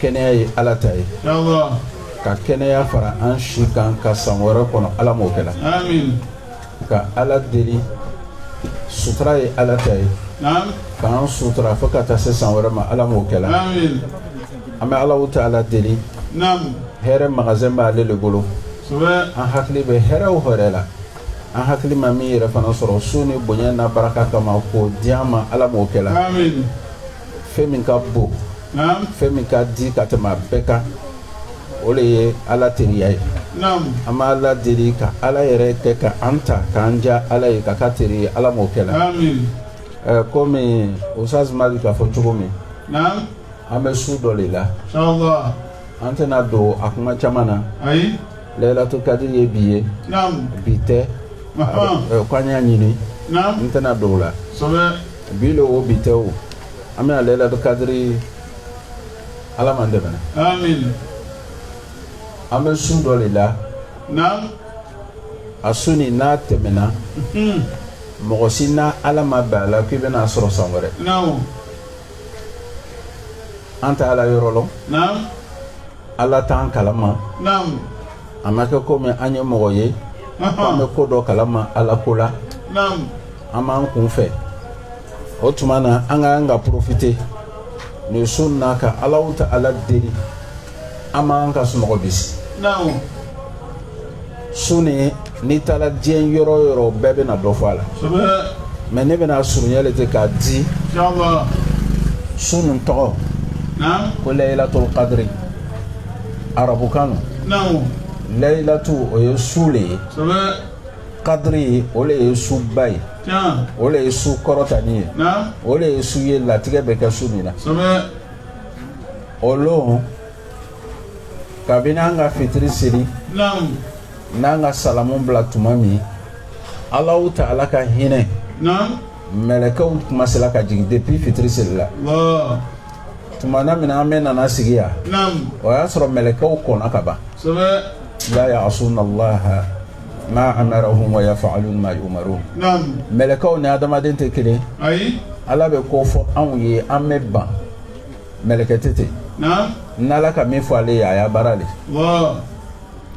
kɛnɛya ye ala ta ye ka kɛnɛya fara an si kan ka san wɛrɛ kɔnɔ ala m'o kɛra ka ala deli sutura ye ala ta ye k'an sutura fo ka taa se san wɛrɛ ma ala m'o kɛra an bɛ alahu taala deli hɛrɛ magazɛn b'ale de bolo an hakili bɛ hɛrɛ o hɛrɛ la an hakili ma min yɛrɛ fana sɔrɔ su nin bonya n'a baraka kama k'o di an ma ala m'o kɛra fɛn min ka bon fɛn min ka di ka tɛmɛ a bɛɛ kan o de ye ala teriya ye an b'ala deli ka ala yɛrɛ kɛ ka an ta k'an ja ala ye ka ka teri ye ala m'o kɛ la komi usitazi mali k'a fɔ cogo min an bɛ su dɔ de la an tɛna don a kuma caman na layilatul kadiri ye bi ye bi tɛ k'an y'a ɲini n tɛna don o la bi don o bi tɛ o an bɛna layilatul kadiri Ala m'an dɛmɛna, aamine, an bɛ su dɔ de la, naamu, a su nin n'a tɛmɛna, unhun, mɔgɔ si n'Ala ma bɛn a la k'i bɛna a sɔrɔ san wɛrɛ, naamu, an tɛ Ala yɔrɔ lɔn, naamu, Ala t'an kalama, naamu, a ma kɛ komi an ye mɔgɔ ye, ɔnhɔn, k'an bɛ ko dɔ kalama Ala ko la, naamu. an b'an kun fɛ o tuma na an ka an ka porofite nin su na ka alahu taala deli an b'an ka sunɔgɔ bisi su nin n'i taara diɲɛ yɔrɔ yɔrɔ bɛɛ bɛna dɔ fɔ a la mɛ ne bɛna surunya de ten k'a di su nin tɔgɔ ko layilatul kadiri arabukan don layilatu o ye su de ye kadiri o de ye suba ye o de ye su kɔrɔtanin ye o de ye su ye latigɛ bɛ kɛ su min na o lon kabini an ka fitiri seli n'an ka salamu bila tuma min alahu taala ka hinɛ mɛlɛkɛw komansela ka jigin depuis fitiri seli la tuma na min an bɛɛ nana sigi yan o y'a sɔrɔ mɛlɛkɛw kɔnna ka ban la ya'asuna allaha ma amarahum wa yaf'alun ma yumarun mɛlɛkɛw ni adamaden tɛ kelen ala bɛ ko fɔ anw ye an bɛ ban mɛlɛkɛ tɛ ten n'ala ka min fɔ ale ye a y'a baara de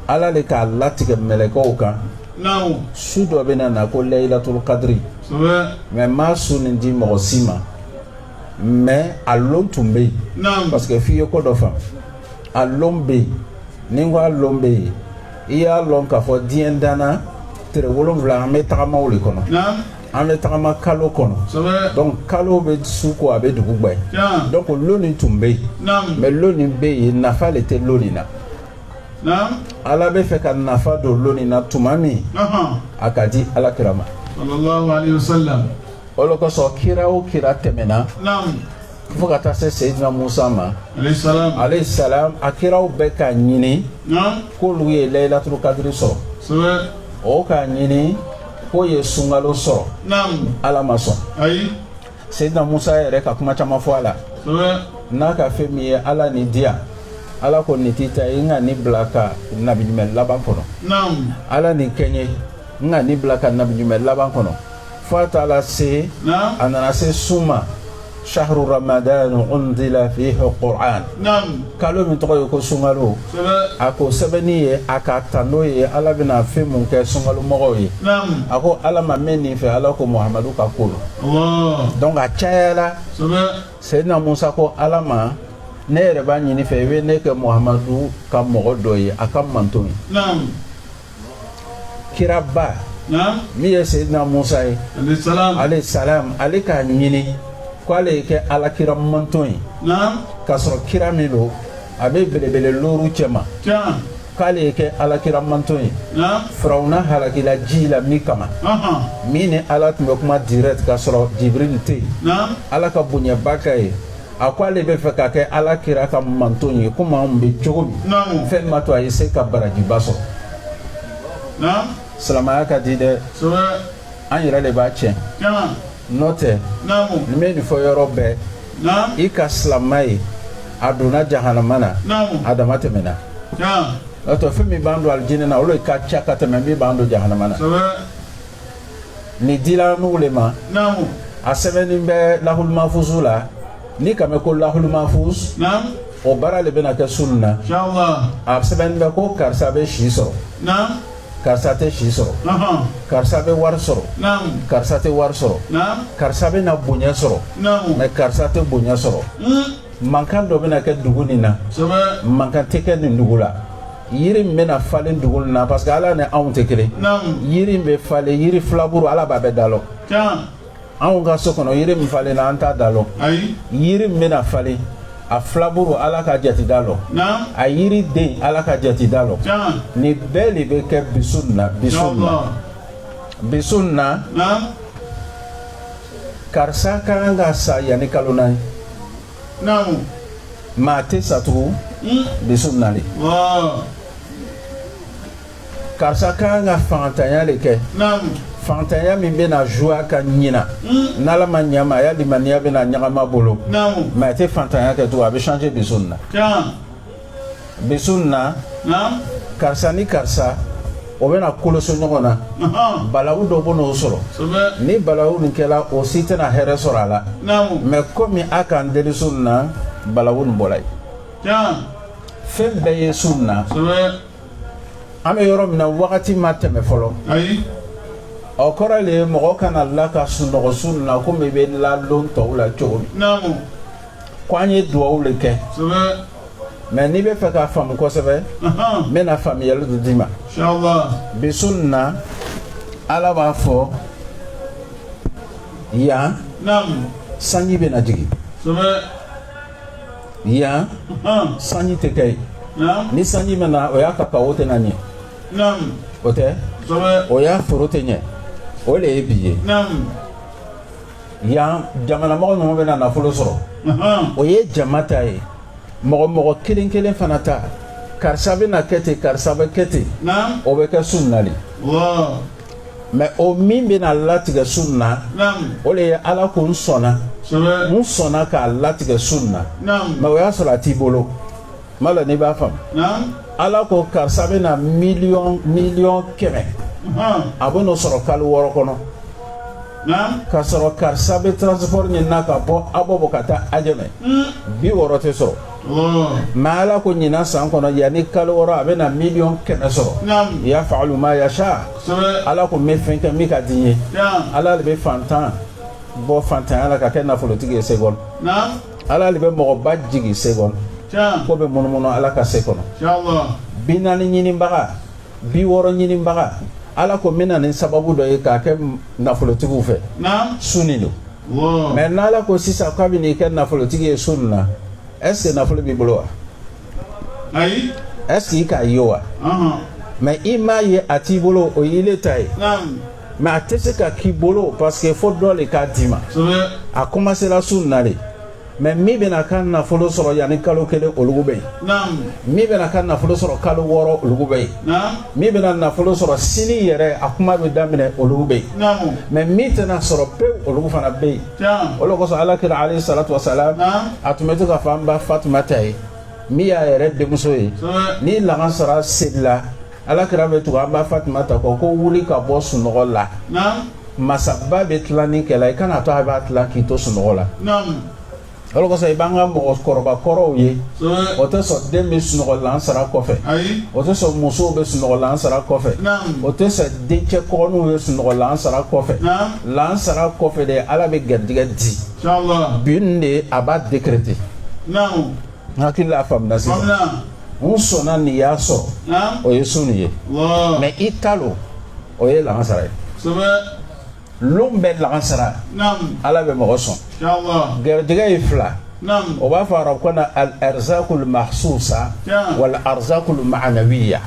ala de k'a latigɛ mɛlɛkɛw kan su dɔ bɛna na ko layilatul kadiri mɛ n ma su nin di mɔgɔ si ma mais a lon tun bɛ yen, naamu, parce que f'i ye ko dɔ faamu, a lon bɛ yen, ni n ko a lon bɛ yen, i y'a lɔn k'a fɔ diɲɛ danna tile wolonfila an bɛ tagama o le kɔnɔ, naamu, an bɛ tagama kalo kɔnɔ, kosɛbɛ, donc kalo bɛ su ko a bɛ dugu gbɛ, tiɲɛ, donc lon in tun bɛ yen, naamu, mais lon in bɛ yen nafa le tɛ lon in na, naamu, Ala bɛ fɛ ka nafa don lon in na tuma min, ɔnhɔn, a k'a di Ala kira ma, salalahu aleyi wasalam. O le kosɔn kira o kira tɛmɛna fo ka taa se seyidina Musa ma aleyi salam a kiraw bɛɛ k'a ɲini k'olu ye layilatul kadiri sɔrɔ o k'a ɲini k'o ye sunkalo sɔrɔ ala ma sɔn seyidina Musa yɛrɛ ka kuma caman fɔ a la n'a ka fɛn min ye ala nin di yan ala ko nin t'i ta ye n ka nin bila ka nabi ɲuman laban kɔnɔ ala nin kɛ n ye n ka nin bila ka nabi ɲuman laban kɔnɔ fo a taara se a nana se sun ma sahru ramadan unzila fihi qur'an kalo min tɔgɔ ye ko sunkalo a k'a sɛbɛnnin ye a k'a tando ye ala bɛna fɛn mun kɛ sunkalo mɔgɔw ye a ko ala ma n bɛ nin fɛ ala ko muhamadu ka ko lo donc a cayala seyidina musa ko ala ma ne yɛrɛ b'a ɲini i fɛ i bɛ ne kɛ muhamadu ka mɔgɔ dɔ ye a ka manton ye kiraba min ye seyidina musa ye aleyi salam ale k'a ɲini ko ale ye kɛ ala kira manton ye k'a sɔrɔ kira min lo a bɛ belebele looru cɛma k'ale ye kɛ ala kira manton ye firawuna halakila ji la min kama min ni ala tun bɛ kuma direct k'a sɔrɔ jibril tɛ yen ala ka bonyaba k'a ye a ko ale bɛ fɛ ka kɛ ala kira ka manton ye komi anw bɛ cogo min fɛn ma to a ye se ka barajiba sɔrɔ silamaya ka di dɛ an yɛrɛ le b'a tiɲɛ n'o tɛ ne bɛ nin fɔ yɔrɔ bɛɛ i ka silama ye a donna jahanama na a dama tɛmɛna n'o tɛ fɛn min b'an don alijinɛ na o le ka ca ka tɛmɛ min b'an don jahanama na nin dila anugu le ma naamu a sɛbɛnnen bɛ lahulumafusu la n'i k'a mɛn ko lahulumafus naamu o baara le bɛna kɛ su nin na inshallah a sɛbɛnnen bɛ ko karisa bɛ si sɔrɔ naamu karisa tɛ si sɔrɔ aha karisa bɛ wari sɔrɔ naamu karisa tɛ wari sɔrɔ naamu karisa bɛna bonya sɔrɔ naamu mais karisa tɛ bonya sɔrɔ mm mankan dɔ bɛna kɛ dugu nin na sɛbɛ mankan tɛ kɛ nin dugu la yiri in bɛna falen dugu min na parce que ala ni anw tɛ kelen yiri in bɛ falen yiri filaburu ala b'a bɛɛ da lɔn anw ka so kɔnɔ yiri min falen na an t'a da lɔn yiri min bɛna falen a filaburu ala k'a jate da lɔn a yiriden ala k'a jate da lɔn nin bɛɛ le bɛ kɛ bi su na bi su na bi su na karisa ka kan ka sa yanni kalo naani naamu mɛ a tɛ sa tugun bi su nin na le ɔɔ karisa ka kan ka fangantanya le kɛ naamu fantanya min bɛna zuwa ka ɲina n'ala ma ɲa a ma a ya limaniya bɛna ɲagami a bolo naamu mɛ a tɛ fantanya kɛ tugun a bɛ changer bi su nin na can bi su in na karisa ni karisa o bɛna koloso ɲɔgɔn na balawu dɔ bɛn'o sɔrɔ ni balawu nin kɛra o si tɛna hɛrɛ sɔrɔ a la mɛ komi a k'a deli su in na balawu nin bɔra yen fɛn bɛɛ ye su in na an bɛ yɔrɔ min na wagati ma tɛmɛ fɔlɔ o kɔrɔ le ye mɔgɔ kana la ka sunɔgɔ su in na komi i bɛ la lon tɔw la cogo min ko an ye duwawu le kɛ mɛ n'i bɛ fɛ k'a faamu kosɛbɛ n bɛna faamuyali dɔ d'i ma bi su nin na ala b'a fɔ yan sanji bɛna jigin yan sanji tɛ kɛ yen ni sanji ma na o ya kakawo tɛna ɲɛ o tɛ o ya foro tɛ ɲɛ o le ye bi ye yan jamanamɔgɔ ninnu bɛna nafolo sɔrɔ o ye jama ta ye mɔgɔ mɔgɔ kelen kelen fana ta karisa bɛna kɛ ten karisa bɛ kɛ ten o bɛ kɛ su in na le mɛ o min bɛna latigɛ su in na o le ye ala ko n sɔnna n sɔnna k'a latigɛ su in na mɛ o y'a sɔrɔ a t'i bolo Kuma la n'i b'a faamu ala ko karisa bɛna mi miliyɔn kɛmɛ a bɛn'o sɔrɔ kalo wɔɔrɔ kɔnɔ ka sɔrɔ karisa bɛ transport ɲinina ka bɔ abobo ka taa ajamɛ hmm. bi wɔɔrɔ tɛ sɔrɔ mɛ ala ko ɲinan san kɔnɔ yanni kalo wɔɔrɔ a bɛna miliyɔn kɛmɛ sɔrɔ yafalu ma yasa ala ko n bɛ fɛn kɛ min ka di n ye ala le bɛ fantan bɔ fantanya la k'a kɛ nafolotigi ye se ala le bɛ mɔgɔba jigin se kɔnɔ ko bɛ munumunu ala ka se kɔnɔ bi naani ɲininbaga bi wɔɔrɔ ɲininbaga ala ko n bɛ na ni sababu dɔ ye k'a kɛ nafolotigiw fɛ su nin don mɛ n'ala ko sisan k'a bɛn'i kɛ nafolotigi ye su nin na ɛseke nafolo b'i bolo wa ayi ɛseke i k'a ye wa mɛ i m'a ye a t'i bolo o ye ile ta ye mɛ a tɛ se ka k'i bolo parce que fo dɔ le k'a d'i ma a kɔmasera su na le mɛ min bɛna ka nafolo sɔrɔ yanni kalo kelen olugu bɛ yen min bɛna ka nafolo sɔrɔ kalo wɔɔrɔ olugu bɛ yen min bɛna nafolo sɔrɔ sini yɛrɛ a kuma bɛ daminɛ olugu bɛ yen mɛ min tɛna sɔrɔ pewu olugu fana bɛ yen o le kosɔn ala kira aleyi salatu wasalam a tun bɛ to k'a fɔ an ba fatumata ye min y'a yɛrɛ denmuso ye ni lagansara selila ala kira bɛ tugu an ba fatimata kɔ ko wuli ka bɔ sunɔgɔ la masaba bɛ tilanni kɛla i kana to a b'a tilan k'i to sunɔgɔ la o de kosɔn i b'an ka mɔgɔkɔrɔba kɔrɔw ye o tɛ sɔn den bɛ sunɔgɔ lansara kɔfɛ o tɛ sɔn musow bɛ sunɔgɔ lansara kɔfɛ o tɛ sɔn dencɛ kɔgɔninw bɛ sunɔgɔ lansara kɔfɛ lansara kɔfɛ de ala bɛ garijɛgɛ di bi nin de a b'a décréter N hakili la faamuna sisan. Faamuna. U sɔnna n'i y'a sɔrɔ. Naamu. O ye sun nin ye. Lɔɔ. Mais i talo o ye lagansara ye. Kosɛbɛ. Lon bɛɛ lagansara. Naamu. Ala bɛ mɔgɔ sɔn. Inshallah. Gɛrɛjɛgɛ ye fila. Naamu. O b'a fɔ arabukan na al arzakul mahsusa. Tiɲɛ. Wal arzakul ma'anawiya.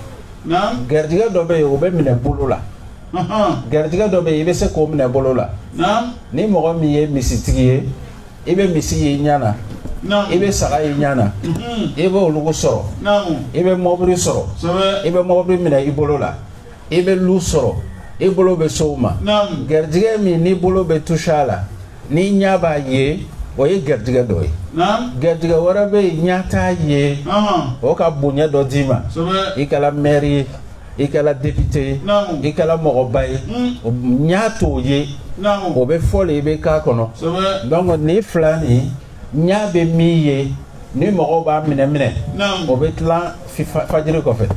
Naamu. Gɛrɛjɛgɛ dɔ bɛ yen o bɛ minɛ bolo la. Ahan. Gɛrɛjɛgɛ dɔ bɛ yen i bɛ se k'o minɛ bolo la. Naamu. Ni mɔgɔ min ye misitigi ye. i bɛ misi ye i ɲa na i bɛ saga y'i ɲa na i bɛ olugu sɔrɔ i bɛ mɔbili sɔrɔ i bɛ mɔbili minɛ i bolo la i bɛ lu sɔrɔ i bolo bɛ s'o ma garijɛgɛ min n'i bolo bɛ touche a la n'i ɲa b'a ye o ye garijɛgɛ dɔ ye garijɛgɛ wɛrɛ bɛ yen ɲa t'a ye o ka bonya dɔ d'i ma i kɛra mɛri ye i kɛra depite ye i kɛra mɔgɔba ye ɲa t'o ye o bɛ fɔ le i bɛ k'a kɔnɔ donc nin fila nin ɲa bɛ min ye ni mɔgɔw b'a minɛ minɛ o bɛ tilan fajiri kɔfɛ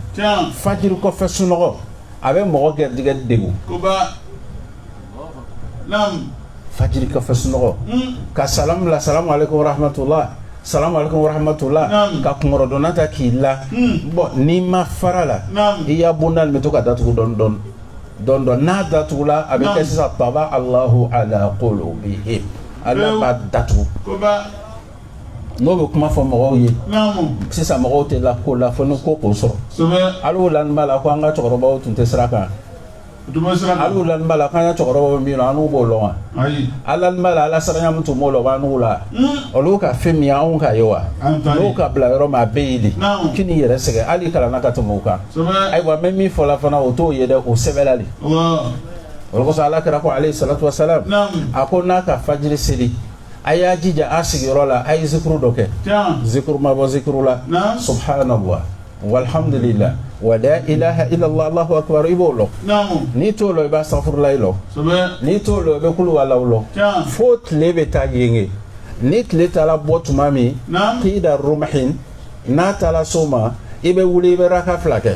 fajiri kɔfɛ sunɔgɔ a bɛ mɔgɔ garijɛgɛ degun Fajiri kɔfɛ sunɔgɔ ka sa bila sa hatola sa hatola ka kundɔnna ta k'i la bɔn ni ma fara la i y'a bonda bɛ to ka da tugu dɔɔnin dɔɔnin dɔɔnin dɔɔnin n'a da tugula a bɛ kɛ sisan baba alah ala ko bɛ ala da tugu n'o bɛ kuma fɔ mɔgɔw ye sisan mɔgɔw tɛ la ko la fo ko k'o sɔrɔ ala la b'a la ko an ka cɛkɔrɔbaw tun tɛ sira kan b'a la k'an ka cɛkɔrɔba min lɔn annu b'o lɔn wa a lannin b'a la ala siranya min tun b'o la o b'annu la olu ka fɛn min ye anw k'a ye wa n'u ka bila yɔrɔ maa bɛ ye de k'i n'i yɛrɛ sɛgɛn hali kalan na ka tɛmɛ o kan ayiwa mɛ min fɔla fana o t'o ye dɛ o sɛbɛnla le o le kosɔn ala kira ko aleyi salatu wasalam a ko n'a ka fajiri seli a y'a jija a sigiyɔrɔ la a ye zikuru dɔ kɛ zikuru mabɔ zikuru la subahana walihamdulila wa ilaha illallahu akbar i b'o lɔn n'i t'o lɔn i b'asitafurulayi lɔn n'i t'o lɔn i bɛ kuluwalahu lɔn fo tile bɛ taa yenge ni tile taara bɔ tuma min kida rumuhin n'a taara so ma i bɛ wuli i bɛ raka fila kɛ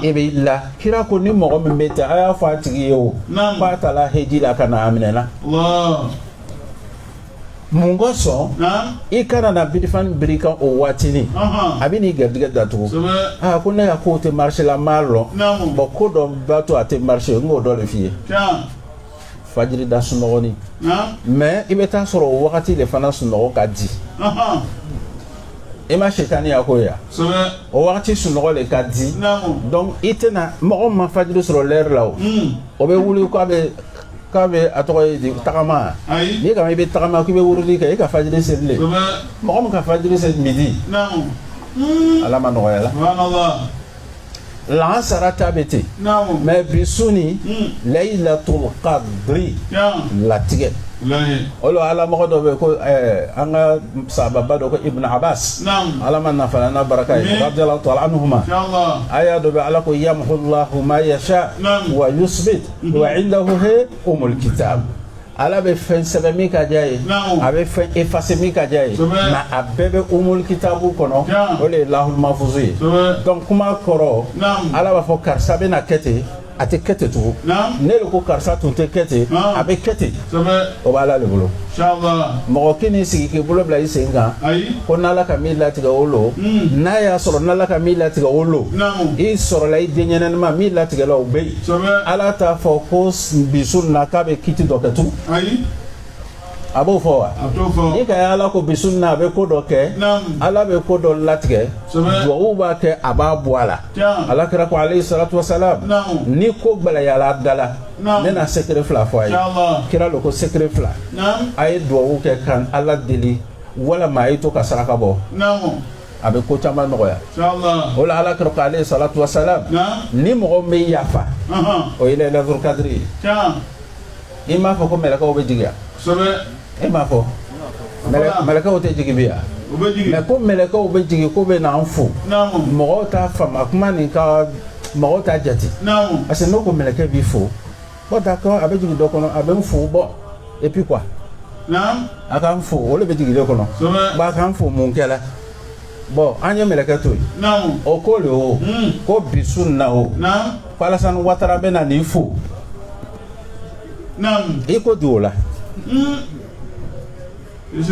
i b'a lɔn kira ko ni mɔgɔ min bɛ ten a y'a fɔ a tigi ye o k'a taara heji la ka na a minɛna. mun ka sɔn i kana na birifan biri i kan o waati nin a bɛ n'i garijɛgɛ datugu aa ko ne ka ko tɛ marché la n b'a lɔn bɔn ko dɔ b'a to a tɛ marché n k'o dɔ de f'i ye fajirida sunɔgɔ nin mais i bɛ taa sɔrɔ o wagati de fana sunɔgɔ ka di i ma sitani y'a ko ya o wagati sunɔgɔ de ka di donc i tɛna mɔgɔ ma fajiri sɔrɔ l'heure la o o bɛ wuli k'a bɛ k'a bɛ a tɔgɔ ye di tagama Ayi. n'i kama i bɛ tagama k'i bɛ wurudi kɛ i ka fajiri selilen Kosɛbɛ. mɔgɔ min ka fajiri seli midi Naamu. ala m'a nɔgɔyala Subhanallah. lansara ta bɛ ten Naamu. mais bi su nin Mm. layilatul qadri Yan. latigɛ Lahi. o la ala mɔgɔ dɔ bɛ yen ko ɛɛ, an ka sahaba dɔ ko ibn abbas Naamu. ala m'an nafa n'a baraka ye Amin. radiyallahu ta'ala anhuma Inshallah. aya dɔ bɛ ala ko yamhullahu ma yasha Naamu. wa yusbit wa indahu he umul kitab ala bɛ fɛn sɛbɛn min ka di a ye a bɛ fɛn efase min ka di a ye nka a bɛɛ bɛ umul kitabu kɔnɔ o de ye lahul mafuzu ye donc kuma kɔrɔ ala b'a fɔ karisa bɛna kɛ ten a tɛ kɛ ten tugun ne de ko karisa tun tɛ kɛ ten a bɛ kɛ ten o b'ala de bolo mɔgɔ kan'i sigi k'i bolo bila i sen kan ko n'ala ka min latigɛ o lo hmm. n'a y'a sɔrɔ n'ala ka min latigɛ o lo i sɔrɔla i denɲɛnanima min latigɛla o bɛ yen Ala t'a fɔ ko bi su in na k'a bɛ kiti dɔ kɛ tugun a b'o fɔ wa n'i k'a ye ala ko bi su in na a bɛ ko dɔ kɛ ala bɛ ko dɔ latigɛ dugawu b'a kɛ a b'a bɔ a la ala kira ko aleyi salatu wasalam ni ko gɛlɛyala a la ne na sekere fila fɔ a ye kira lo ko sekere fila a ye dugawu kɛ ka ala deli walima a ye to ka saraka bɔ a bɛ ko caman nɔgɔya o la ala kira ko aleyi salatu wasalam ni mɔgɔ bɛ yafa o ye layilatul kadiri ye i m'a fɔ ko mɛlɛkɛw bɛ jigin ya i m'a fɔ mɛlɛkɛw tɛ jigin bi yan mais ko mɛlɛkɛw bɛ jigin k'o bɛ n'an fo mɔgɔw t'a faamu kuma nin ka mɔgɔw t'a jate parce que n'o ko mɛlɛkɛ b'i fo Bon d'accord a bɛ jigin dɔ kɔnɔ a bɛ n fo bon et puis quoi naam a ka n fo o de bɛ jigin dɔ kɔnɔ kosɛbɛ bon a ka n fo mun kɛra bon an ye mɛlɛkɛ to yen naam o ko le o Hmm. ko bi su in na o naam ko Alassane Ouattara bɛ na nin fo naam i ko di o la Hmm.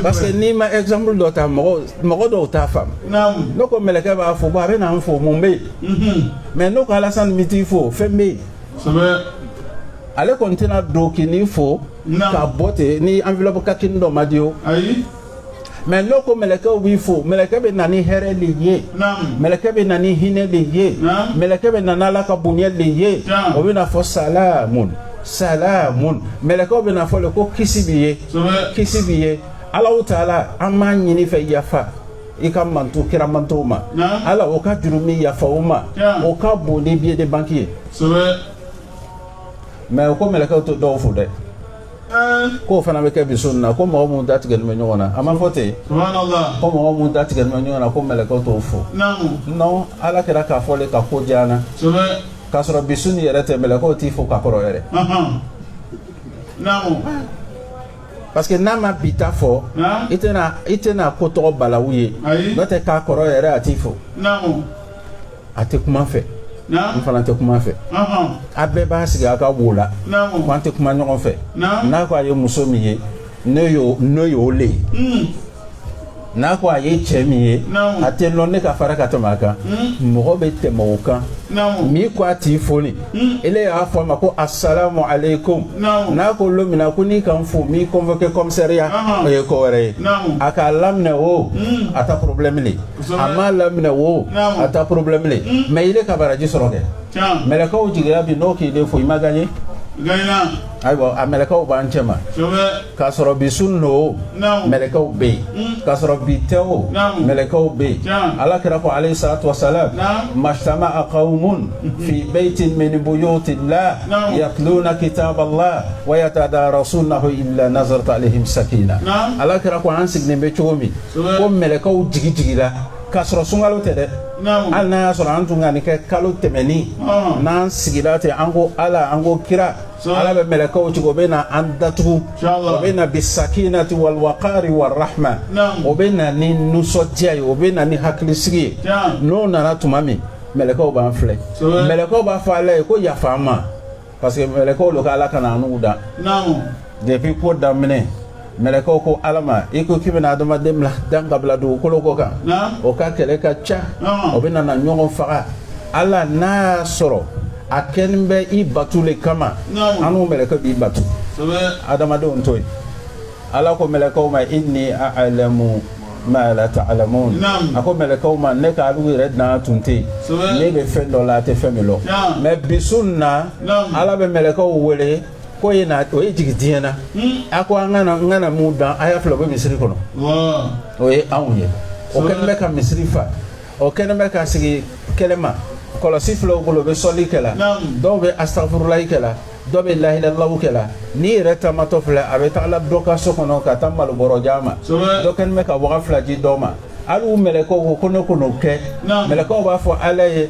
Parce que n'i ma exemple dɔ ta mɔgɔ mɔgɔ dɔw t'a faamu. Naamu. Ne ko mɛlɛkɛ b'a fɔ ko a bɛ na n fo mun bɛ yen. Unhun. Mais ne ko Alasani n bɛ t'i fo fɛn bɛ yen. Kosɛbɛ. Ale kɔni tɛna don k'i n'i fo. Naamu. Ka bɔ ten ni enveloppe kakini dɔ ma di o. Ayi. Mais ne ko mɛlɛkɛw b'i fo mɛlɛkɛ bɛ na ni hɛrɛ de ye. Naamu. Mɛlɛkɛ bɛ na ni hinɛ de ye. Naamu. Mɛlɛkɛ bɛ na n'Ala ka bonya de ye. Tiɲɛ. O bɛ na fɔ salamun salamun mɛlɛkɛw bɛ na fɔ de ko kisi b'i ye. kisi b'i ye ala taala an b'a ɲini i fɛ yafa i ka mantɔn kira mantɔnw ma ala o ka juru min yafa o ma o ka bon ni billet de banque ye mais o ko mɛlɛkɛw tɛ dɔw fo dɛ k'o fana bɛ kɛ bi su in na ko mɔgɔ minnu da tigɛlen bɛ ɲɔgɔn na a ma fɔ ten ko mɔgɔ minnu da tigɛlen bɛ ɲɔgɔn na ko mɛlɛkɛw t'o fo non ala kira k'a fɔ le ka ko diyana k'a sɔrɔ bi su in yɛrɛ tɛ mɛlɛkɛw t'i fo ka kɔrɔ yɛrɛ parce que n'a ma bi ta fɔ i tɛna i tɛna ko tɔgɔ balawu ye n'o tɛ k'a kɔrɔ yɛrɛ a t'i fo a tɛ kuma n fɛ n fana tɛ kuma a fɛ a bɛɛ b'a sigi a ka wo la ko an tɛ kuma ɲɔgɔn fɛ n'a ko a ye muso min ye ne y'o ne y'o le ye hmm. n'a ko a ye cɛ min ye a t'a lɔn ne ka farin ka tɛmɛ a kan hmm? mɔgɔ bɛ tɛmɛ o kan min ko a t'i foni hmm? ile y'a fɔ a ma ko asalamu aleykum n'a ko lon min na ko n'i ka n fo m'i convoqué commissariat o ye ko wɛrɛ ye a k'a laminɛ o hmm? a ta problème le a m'a laminɛ o a ta problème le mais ile ka baraji sɔrɔ kɛ mɛlɛkɛw jigira bi n'o k'ile fo i ma gagné ayiwa a mɛlɛkɛw b'an cɛma K'a sɔrɔ bi su in don mɛlɛkɛw bɛ yen k'a sɔrɔ bi tɛ o mɛlɛkɛw bɛ yen ala kira ko alayhi salatu wa salam ma ijtama'a qawmun fi baytin min buyuti llah yatluna kitaba llah wa yatadarasunahu illa nazalat alayhimu sakina ala kira ko an sigilen bɛ cogo min ko mɛlɛkɛw jigin jiginra k'a sɔrɔ sunkalo tɛ dɛ hali n'a y'a sɔrɔ an tun ka nin kɛ kalo tɛmɛnen n'an sigira ten an ko ala an ko kira ala bɛ mɛlɛkɛw ci ko o bɛ na an datugu o bɛ na bi sakinati wal waqari wa rahma o bɛ na ni nisɔndiya ye o bɛ na ni hakili sigi ye n'o nana tuma min mɛlɛkɛw b'an filɛ mɛlɛkɛw b'a fɔ ala ye ko yafa o ma parce que mɛlɛkɛw don k' ala kana an dan depuis ko daminɛ mɛlɛkɛw ko ala ma i ko k'i bɛna adamaden bila dan ka bila dugukolo kɔ kan o ka kɛlɛ ka ca o bɛna na ɲɔgɔn faga ala n'a y'a sɔrɔ a kɛlen bɛ i batu le kama annu mɛlɛkɛ b'i batu adamadenw to yen ala ko mɛlɛkɛw ma inni a'lamu ma la ta'lamun a ko mɛlɛkɛw ma ne ka alu yɛrɛ dan tun tɛ yen ne bɛ fɛn dɔ lɔn a tɛ fɛn min lɔn mais bi su in na ala bɛ mɛlɛkɛw wele ko ye na o ye jigi diɲɛ na a ko an kana n kana minw dan a y'a filɛ u bɛ misiri kɔnɔ o ye anw ye o kɛlen bɛ ka misiri fa o kɛlen bɛ ka sigi kɛlɛma kɔlɔsi filɛ u bolo bɛ sɔli kɛla dɔw bɛ astafurulayi kɛla dɔ bɛ lahilalaw kɛla nin yɛrɛ taamatɔ filɛ a bɛ taga dɔ ka so kɔnɔ ka taa malobɔrɔ d'a ma dɔ kɛlen bɛ ka waga fila di dɔ ma hali u mɛlɛkɛw ko ko ne ko n'o kɛ mɛlɛkɛw b'a fɔ ala ye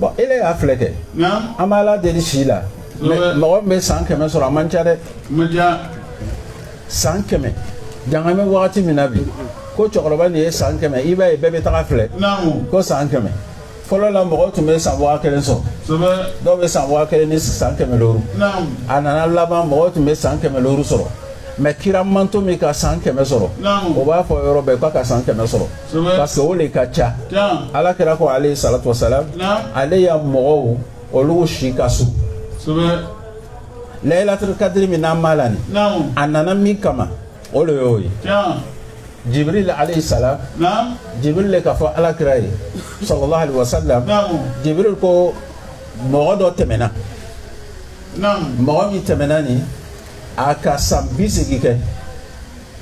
bɔn e y'a filɛ kɛ an b'ala deli si la mɔgɔ min bɛ san kɛmɛ sɔrɔ a man ca dɛ san kɛmɛ jangamɛ wagati min na bi ko cɛkɔrɔba nin ye san kɛmɛ i b'a ye bɛɛ bɛ tag'a filɛ ko san kɛmɛ fɔlɔ la mɔgɔw tun bɛ san waga kelen sɔrɔ dɔw bɛ san waga kelen ni san kɛmɛ looru a nana laban mɔgɔw tun bɛ san kɛmɛ looru sɔrɔ mais kira manto min ka san kɛmɛ sɔrɔ o b'a fɔ yɔrɔ bɛɛ ko a ka san kɛmɛ sɔrɔ parce que o de ka ca ala kira ko alayhi salatu wasalam ale ya mɔgɔw olu si ka surun layilatul kadiri min n'an b'a la nin a nana min kama o de y'o ye jibril alayhi salam jibril le k'a fɔ ala kira ye sallallahu alaihi wasallam jibril ko mɔgɔ dɔ tɛmɛna mɔgɔ min tɛmɛna nin a ka san bi segin kɛ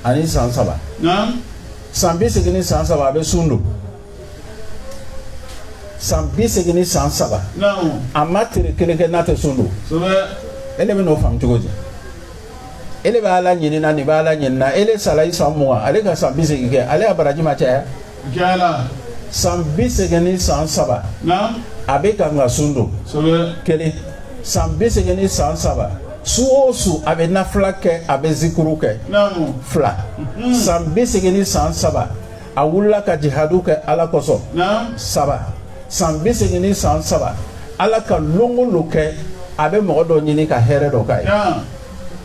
ani san saba san bi segin ni san saba a bɛ sun don san bi segin ni san saba a ma tile kelen kɛ n'a tɛ sun don e de bɛ n'o faamu cogo di e de bɛ ala ɲinina nin bɛ ala ɲinina e de sala i san mugan ale ka san bi segin kɛ ale ka baraji ma caya Jala san bi segin ni san saba a bɛ kan ka sun don kelen san bi segin ni san saba su o su a bɛ nafila kɛ a bɛ zikuru kɛ fila mhm. san bi segin ni san saba a wulila ka jihadu kɛ ala kosɔn saba san bi segin ni san saba ala ka lonko lo kɛ a bɛ mɔgɔ dɔ ɲini ka hɛrɛ dɔ k'a ye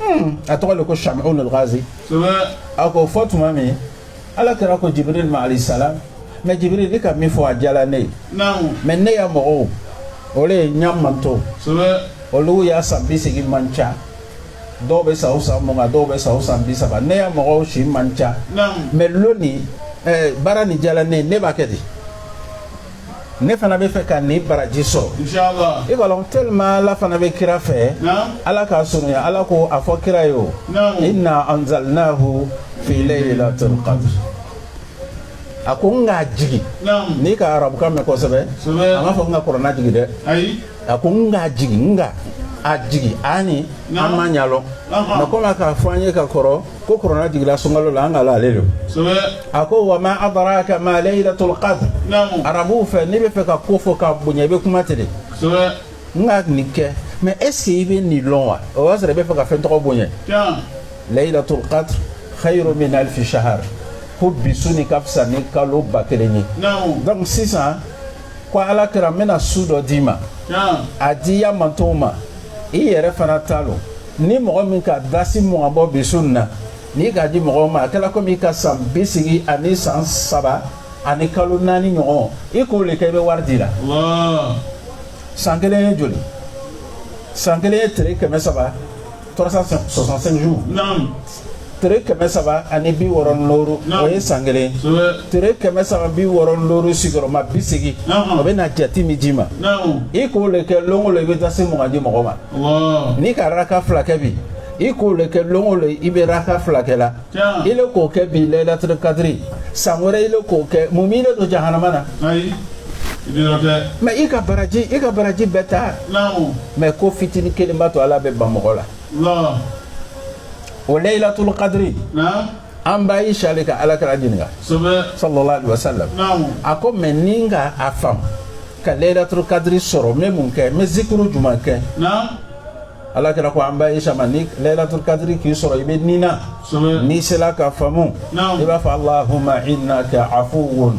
hmm, a tɔgɔ de ko samuna gazi a k'o fɔ tuma min ala kira ko jibril ma alayhi salam mais jibril i ka min fɔ a diyala ne ye mais ne ya mɔgɔw o de ye n ya manto olu ya san bi segin man ca dɔw bɛ sa o san mugan dɔw bɛ sa o san bi saba ne ya mɔgɔw si man ca mais loni eh, baara nin diyala ne ye ne b'a kɛ di ne fana b'a fɛ ka nin baraji sɔrɔ i k'a lɔn tellement ala fana bɛ kira fɛ ala k'a sɔnɔya ala ko a fɔ kira ye o inna anzalnahu fi laylatil qadr a ko n k'a jigi n'i ka arabukan mɛn kosɛbɛ a m'a fɔ n ka kɔrɔna jigi dɛ a ko n k'a jigi n ka a jigi ani an ma ɲalɔn mɛ komi a k'a fɔ an ye ka kɔrɔ ko kurana jiginla sunkalo la an ka ale don a ko wa ma adaraka ma layilatul kadiri arabuw fɛ n'i bɛ fɛ ka ko fɔ ka bonya i bɛ kuma ten de n ka nin kɛ mɛ est-ce que i bɛ nin dɔn wa o y'a sɔrɔ i bɛ fɛ ka fɛn tɔgɔ bonya layilatul kadiri xayirun min alifi sahari ko bi su nin ka fisa ni kalo ba kelen ye donc sisan ko ala kira n bɛna su dɔ d'i ma a di ya mantɔn ma i yɛrɛ fana t'a lɔn ni mɔgɔ min ka dasi mugan bɔ bi su na n'i k'a di mɔgɔ ma a kɛra komi i ka san bi segin ani san saba ani kalo naani ɲɔgɔn i k'o de kɛ i bɛ wari di la san kelen ye joli san kelen ye tere kɛmɛ saba 365 jours tere kɛmɛ saba ani bi wɔɔrɔ ni loru o ye san kelen tere kɛmɛ saba bi wɔɔrɔ ni loru sigiyɔrɔma bi segin o bɛ na jate min d'i ma i k'o le kɛ lon o lon i bɛ dasi mugan di mɔgɔ ma n'i ka raka fila kɛ bi i k'o le kɛ lon o lon i bɛ raka fila kɛ la i le k'o kɛ bi layilatul kadiri san wɛrɛ i le k'o kɛ mun b'i le don jahanama na mɛ i ka baraji i ka baraji bɛɛ ta mɛ ko fitinin kelen b'a to ala bɛ ban mɔgɔ la la o layilatul kadiri na an ba ayisa le ka ala kira ɲininka sɛbɛ sallallahu alaihi wasallam naamu a ko mɛ ni n ka a faamu ka layilatul kadiri sɔrɔ n bɛ mun kɛ n bɛ zikuru jumɛn kɛ na ala kira ko an ba ayisa ma ni layilatul kadiri k'i sɔrɔ i bɛ nina sɛbɛ n'i sela ka faamu Naamu. i b'a fɔ allahumma innaka afuwun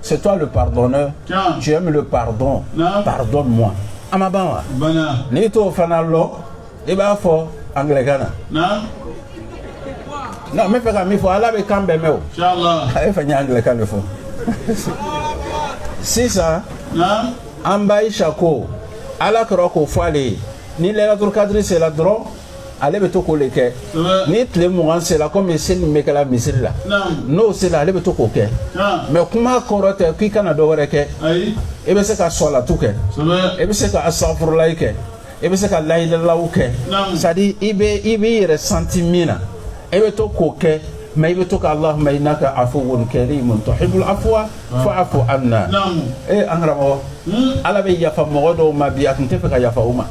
C'est toi le pardonneur. Tiens. Tu aimes le pardon. Pardonne-moi. A ma ban wa. Banna. Nin tɔ fana lo. I b'a fɔ angilɛkan na. Non, n bɛ fɛ ka min fɔ Ala bɛ kan bɛɛ mɛn o. Inshallah. A ye fɛn ye angilɛkan de fɔ. Sisan. Naam. An ba Ayisa ko. Ala kira k'o fɔ ale ye. Ni layilatul kadiri sera dɔrɔn. ale bɛ to k'o de kɛ ni tile mugan sera komi seli min bɛ kɛla misiri la n'o sera ale bɛ to k'o kɛ mɛ kuma kɔrɔ tɛ k'i kana dɔ wɛrɛ kɛ e bɛ se ka sɔlatu kɛ e bɛ se ka asitagifurulayi kɛ e bɛ se ka layilalaw kɛ c'est-à-dire i bɛ i b'i yɛrɛ santi min na e bɛ to k'o kɛ mɛ i bɛ to ka alahuma inaka afuwun karimun tuhibul afuwa fa afu ana ee an karamɔgɔ ala bɛ yafa mɔgɔ dɔw ma bi a tun tɛ fɛ ka yafa u ma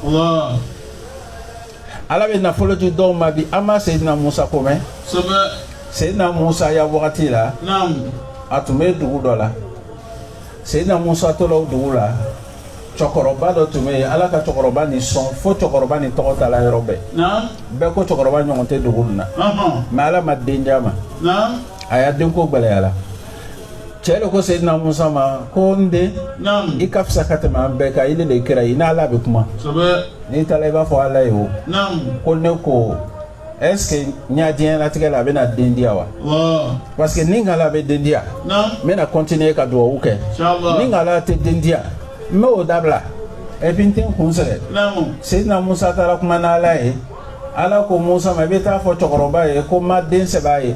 ala bɛ nafolo di dɔw ma bi a ma seyidina musa ko mɛn seyidina musa ya wagati la a tun bɛ dugu dɔ la seyidina musa tola o dugu la cɛkɔrɔba dɔ tun bɛ yen ala ka cɛkɔrɔba nin sɔn fo cɛkɔrɔba nin tɔgɔ taala yɔrɔ bɛɛ bɛɛ ko cɛkɔrɔba ɲɔgɔn tɛ dugu nin na mɛ ala ma den di a ma a ya denko gwɛlɛyala cɛ de ko seyidina musa ma ko n den i ka fisa ka tɛmɛ an bɛɛ kan ile le kira i n'ala bɛ kuma n'i taara i b'a fɔ ala ye o ko ne ko est ce que n ya diɲɛlatigɛ la a bɛna den di yan wa parce que ni ngala bɛ den di yan n bɛna continuer ka dugawu kɛ ni ngala tɛ den di yan n bɛ o dabila et puis n tɛ n kun sɛgɛn seyidina musa taara kuma n'ala ye ala ko musa ma i bɛ taa fɔ cɛkɔrɔba ye ko n ma den sɛbɛn a ye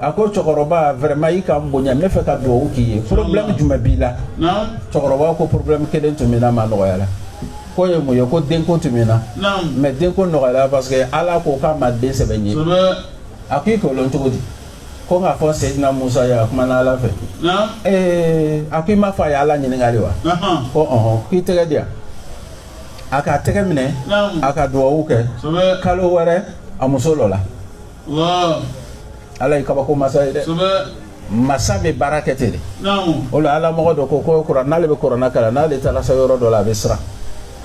a ko cɛkɔrɔba vraiment i ka n bonya n bɛ fɛ ka dugawu k'i ye problème jumɛn b'i la cɛkɔrɔba ko problème kelen tun bɛ n na mais a nɔgɔyara k'o ye mun ye ko denko tun bɛ n na mais denko nɔgɔyara parce que ala ko k'a ma den sɛbɛn n ye a ko i k'o lɔn cogo di ko n k'a fɔ seyidina musa ye a kumana ala fɛ ee a ko i k'a fɔ a ye ala ɲininka le wa ko ɔhɔn k'i tɛgɛ di yan a k'a tɛgɛ minɛ a ka dugawu kɛ kalo wɛrɛ a muso lɔla ala ye kabako masa ye dɛ masa bɛ baara kɛ ten de o la ala mɔgɔ dɔ ko ko kɔrɔ n'ale bɛ kurana kalan n'ale taara s'a yɔrɔ dɔ la a bɛ siran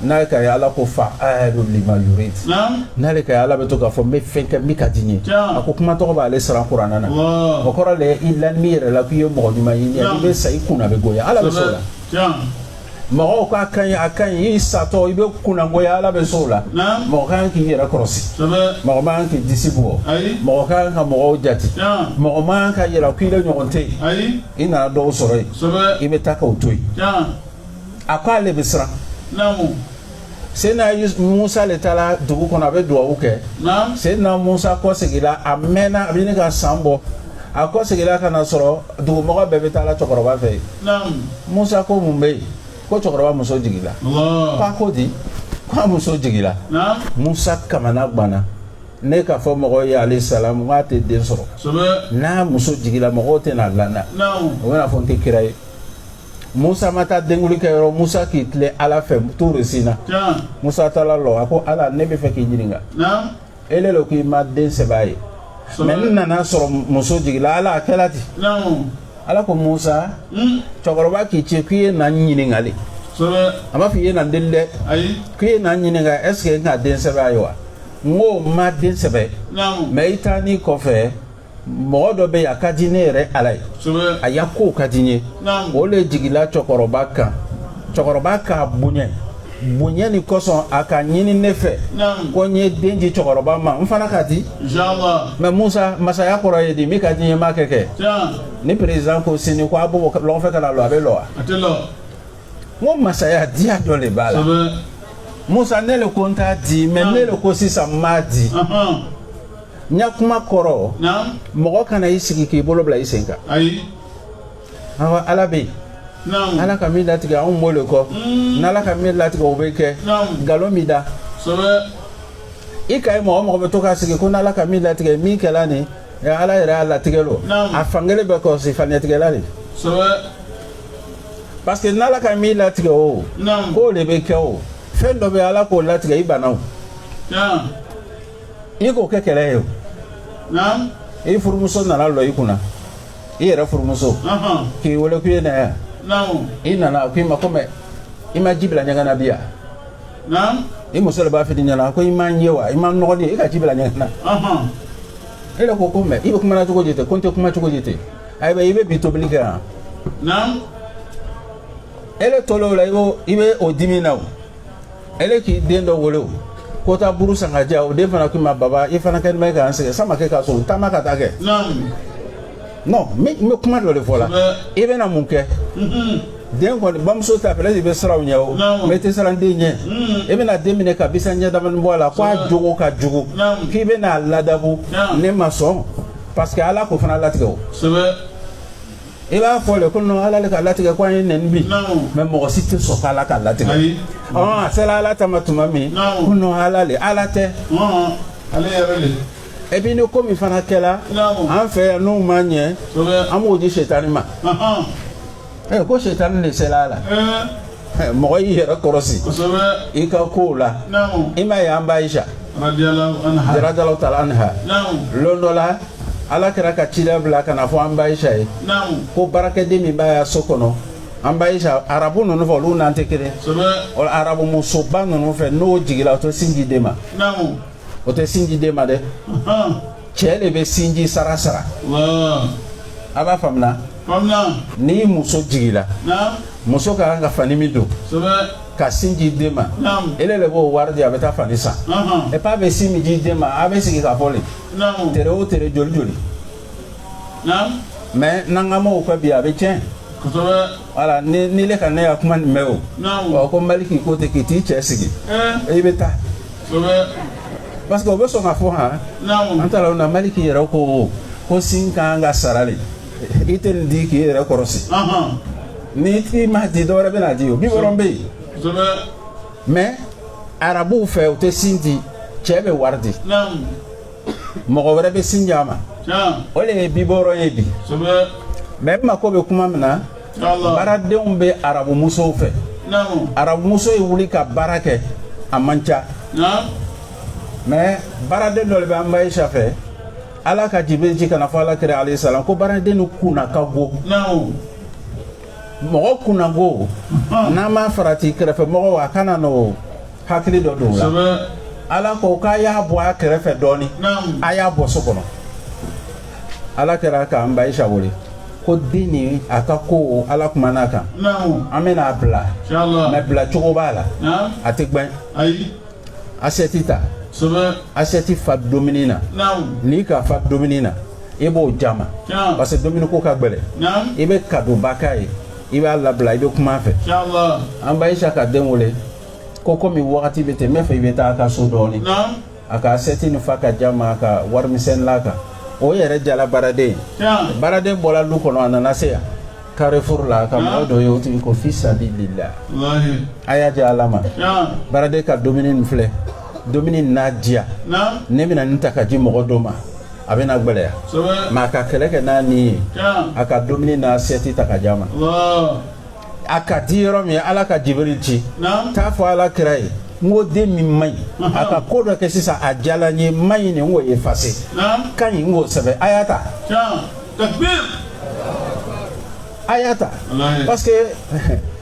n'a ka ala ko faalun lima yuridu n'ale ka ala bɛ to k'a fɔ n bɛ fɛn kɛ min ka di n ye a ko kuma tɔgɔ b'ale siran kurana na o kɔrɔ de i lanin b'i yɛrɛ la k'i ye mɔgɔ ɲuman ye i bɛ sa i kunna bɛ goya ala bɛ se o la mɔgɔw k'a ka ɲi a ka ɲi i satɔ i bɛ kunnangoya ala bɛ se o la mɔgɔ ka kan k'i yɛrɛ kɔlɔsi mɔgɔ man kan k'i disi bɔ mɔgɔ ka kan ka mɔgɔw jate mɔgɔ man kan k'a yira ko ile ɲɔgɔn tɛ yen i nana dɔw sɔrɔ yen i bɛ taa k'o to yen a ko ale bɛ siran seyidina musa de taara dugu kɔnɔ a bɛ dugawu kɛ seyidina musa kɔ seginla a mɛnna a bɛ ɲini ka san bɔ a kɔ seginla ka n'a sɔrɔ dugumɔgɔ bɛɛ bɛ taala cɛkɔrɔba fɛ yen musa ko mun bɛ yen ko cɛkɔrɔba muso jiginla fa ko di k'a muso jiginla musa kamana gana ne k'a fɔ mɔgɔ ye alayhi salamu k'a tɛ den sɔrɔ n'a muso jiginla mɔgɔw tɛna la n na o bɛna fɔ n tɛ kira ye Musa ma taa denkundi kɛ yɔrɔ Musa k'i tilen Ala fɛ Tuuru Sina. Tiɲɛ. Musa taara lɔ, a ko Ala ne bɛ fɛ k'i ɲininka. Naamu. Ele lo k'i ma den sɛbɛ a ye. Sɔɔni. Mais n nana sɔrɔ muso jiginna Ala a kɛra ten. Naamu. Ala ko Musa. Un! Cɛkɔrɔba k'i ci k'i ye na n ɲininka de. Kosɛbɛ. A m'a fɔ i ye na n deli dɛ. Ayi. K'i ye na n ɲininka est ce que n ka den sɛbɛ a ye wa? N ko n ma den sɛbɛ. Naamu. Mais i taanin kɔfɛ. mɔgɔ dɔ bɛ yen a ka di ne yɛrɛ ala ye a ya kow ka di n ye o de jigila cɛkɔrɔba kan cɛkɔrɔba k'a bonya bonya nin kosɔn a k'a ɲini ne fɛ ko n ye den di cɛkɔrɔba ma n fana k'a di mais musa masaya kɔrɔ ye di min ka di n ye n b'a kɛ kɛ ni président ko sini ko abobo lɔgɔfɛ kana lɔ a bɛ lɔ wa a tɛ lɔ o masaya diya dɔ de b'a la musa ne le ko n t'a di mais ne le ko sisan n b'a di n ka kuma kɔrɔ mɔgɔ kana i sigi k'i bolo bila i sen kan awa ala bɛ yen ala ka min latigɛ anw b'o le kɔ hmm. n'ala ka min latigɛ o bɛ kɛ nkalon b'i da i ka ye mɔgɔ mɔgɔ bɛ to k'a sigi ko n'ala ka min latigɛ min kɛla nin ala yɛrɛ y'a latigɛ lo a fankelen bɛ kɔlɔsi faniyatigɛla le parce que n'ala ka min latigɛ o k'o le bɛ kɛ o fɛn dɔ bɛ ala k'o latigɛ i banna o i k'o kɛ kɛlɛ ye o naam i furumuso nana lɔ i kunna i yɛrɛ furumuso ɔhɔn k'i wele k'i ye na yan naam i nana a ko i ma ko mɛ i ma ji bila ɲɛgɛn na bi yan naam i muso le b'a f'i ɲɛna ko i ma n ye wa i ma n nɔgɔnin ye i ka ji bila ɲɛgɛn na ɔhɔn e yɛrɛ ko ko mɛ i bɛ kumana cogo di ten ko n tɛ kuma cogo di ten ayiwa i bɛ bi tobili kɛ yan naam e le tol'o la i b'o i bɛ o dimi na o ele k'i den dɔ wele ko taa buru san ka di yan o den fana k'i ma baba i fana kɛlen bɛ k'an sɛgɛn sama kɛ k'a sɔrɔ taama ka taa kɛ non n bɛ kuma dɔ le fɔla i bɛna mun kɛ den kɔni bamuso ta fɛlɛ de bɛ siran ɲɛ o mɛ tɛ siran den ɲɛ e bɛna den minɛ ka bisa ɲɛ damani bɔ a la ko a jogo ka jugu k'i bɛna a ladabu ne ma sɔn parce que ala k'o fana latigɛ o i b'a fɔ le ko non ala le k'a latigɛ ko a ye n nɛni bi mais mɔgɔ si tɛ sɔn k'ala k'a latigɛ ɔn a sera ala ta ma tuma min ko non ala le ala tɛ ale yɛrɛ le et puis ni ko min fana kɛra an fɛ yan n'o ma ɲɛ an b'o di setani ma ko setani le sera a la mɔgɔ y'i yɛrɛ kɔrɔsi i ka kow la i m'a ye an ba aisha radiyalahu taala anha lon dɔ la ala kira ka cira bila ka n'a fɔ an ba aisha ye ko baarakɛden min b'a ya so kɔnɔ an ba aisha arabu ninnu fɛ olu n'an tɛ kelen o arabu musoba ninnu fɛ n'o jigila o tɛ sin di den ma o tɛ sin di den ma dɛ cɛ le bɛ sinji sara sara a b'a faamuya ni muso jigila muso ka kan ka fani min don ka sin di den ma ele le b'o wari di a bɛ taa fani san et puis a bɛ sin min di den ma a bɛ sigi k'a fɔ le tere o tere joli joli mɛ n'an ka mɔgɔw ka bi a bɛ tiɲɛ wala ni ile ka ne ya kuma nin mɛ o ɔ ko maliki ko ten k'i t'i cɛ sigi i bɛ taa Parce que o bɛ sɔn k'a fɔ h an taara na maliki yɛrɛ ko ko sin ka kan ka sara le i tɛ nin di k'i yɛrɛ kɔrɔsi n'i ma sin di dɔwɛrɛ bɛn'a di o biberon bɛ yen mɛ arabuw fɛ u tɛ sin di cɛ bɛ wari di mɔgɔ wɛrɛ bɛ sin di a ma o le biberon ye bi mɛ e mako bɛ kuma min na baaradenw bɛ arabumusow fɛ arabumuso ye wuli ka baara kɛ a man ca mɛ baaraden dɔ de bɛ an ba ayisa fɛ ala ka jibiri ci ka n'a fɔ ala kira alayhi salam ko baaraden nin kunna ka go mɔgɔ kunna go n'an m'a farati kɛrɛfɛ mɔgɔw a kana n'o hakili dɔ don o la ala ko k'a y'a bɔ a kɛrɛfɛ dɔɔnin a y'a bɔ so kɔnɔ ala kira k'an ba ayisa wele ko den nin a ka ko ala kumana a kan an bɛna a bila mɛ bila cogo b'a la a tɛ gbɛn asɛti ta asɛti fa dumuni na n'i k'a fa dumuni na i b'o di a ma parce que dumuni ko ka gbɛlɛ i bɛ kadoba k'a ye i b'a labila i bɛ kuma a fɛ an ba ayisa ka den wele ko komi wagati bɛ ten n b'a fɛ i bɛ taa a ka so dɔɔnin a ka asɛti nin fa ka di a ma a ka warimisɛn la a kan o yɛrɛ diyala baaraden ye baaraden bɔra lu kɔnɔ a nana se yan carrefour la ka mɔgɔ dɔ ye o tigi ko fi sabilillah a y'a di ala ma baaraden ka dumuni nin filɛ dumuni n'a diya ne bɛna nin ta ka di mɔgɔ dɔ ma a bɛna gbɛlɛya mɛ a ka kɛlɛ kɛ n'a ni ye a ka dumuni n'asɛti ta ka di a ma a ka di yɔrɔ min ala ka jibiri ci t'a fɔ ala kira ye n ko den min man ɲi a ka ko dɔ kɛ sisan a diyala n ye man ɲi nin n k'o efase ka ɲi n k'o sɛbɛn a y'a ta a y'a ta parce que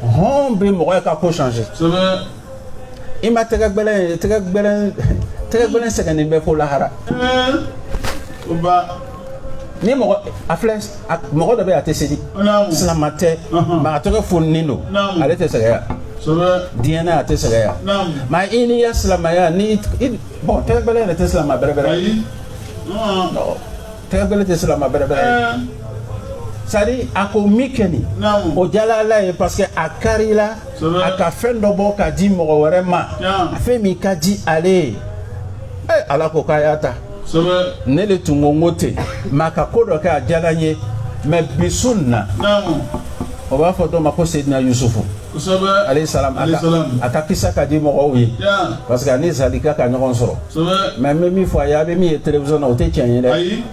hɔn bɛ mɔgɔ ye ka ko changer i ma tɛgɛ gbɛlɛn ye tɛgɛ gbɛlɛn tɛgɛ gbɛlɛn sɛgɛnnen bɛ fo lahara ni mɔgɔ a filɛ mɔgɔ dɔ bɛ a tɛ seli silama tɛ nka a tɛgɛ foninen don ale tɛ sɛgɛya diɲɛ na a tɛ sɛgɛya mɛ i n'i ya silamaya ni bɔn tɛgɛ gbɛlɛn yɛrɛ tɛ silama bɛrɛbɛrɛ tɛgɛ gbɛlɛn tɛ silama bɛrɛbɛrɛ sari a ko min kɛ nin o diyala ala ye parce que a karila a ka fɛn dɔ bɔ ka di mɔgɔ wɛrɛ ma a fɛn min ka di ale ye ee ala ko k'a y'a ta ne de tun ko n ko ten mɛ a ka ko dɔ kɛ a diyara n ye mɛ bi su nin na o b'a fɔ dɔ ma ko sedina yusufu alayhi salam a ka kisa ka di mɔgɔw ye parce que a ni zalika ka ɲɔgɔn sɔrɔ mɛ n bɛ min fɔ a ye a bɛ min ye télévision na o tɛ tiɲɛ ye dɛ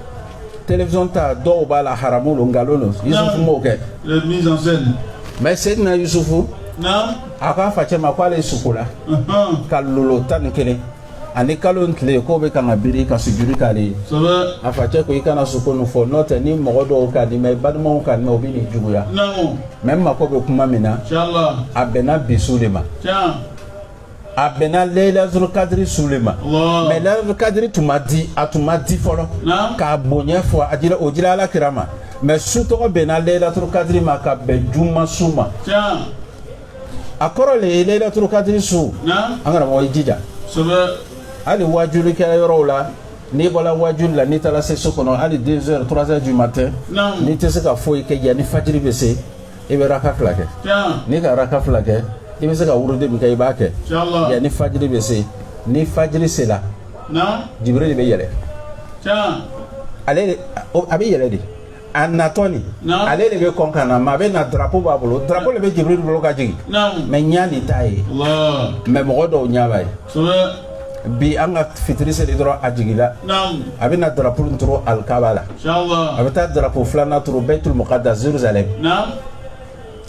télévision ta dɔw b'a la haramu don nkalon don yusufu m'o kɛ mais sedina yusufu a k'a facɛ ma k'ale sukola ka lolo tan ni kelen ani kalo ni tile ye k'o bɛ kan ka biri ka sujudi k'ale ye a facɛ ko i kana suko nin fɔ n'o tɛ ni mɔgɔ dɔw ka nin mɛn i balimaw ka nin mɛn u bɛ nijuguya mɛ n mako bɛ kuma min na a bɛnna bi su de ma a bɛnna leyilatul kadiri su le ma mɛ leyilatul kadiri tun ma di a tun ma di fɔlɔ k'a bonya fɔ a dira o dira ala kira ma mɛ su tɔgɔ bɛnna leyilatul kadiri ma ka bɛn juma su ma a kɔrɔ le ye leyilatul kadiri su an karamɔgɔ i jija hali waajuli kɛra yɔrɔw la n'i bɔra waajuli la n'i taara se so kɔnɔ hali deux heures trois heures du matin n'i tɛ se ka foyi kɛ yanni fajiri bɛ se i bɛ raka fila kɛ n'i ka raka fila kɛ i bɛ se ka wurudi min kɛ i b'a kɛ yanni fajiri bɛ se ni fajiri sera jibiri le bɛ yɛlɛ ale a bɛ yɛlɛ de a natɔ nin ale le bɛ kɔn ka na mɛ a bɛ na drapo b'a bolo drapo le bɛ jibiri bolo ka jigin mɛ ɲa nin t'a ye mɛ mɔgɔ dɔw ɲa b'a ye bi an ka fitiri seli dɔrɔn a jigila a bɛ na darapo turu alikaba la a bɛ taa darapo filanan turu bɛtul muqaddas Jérusalem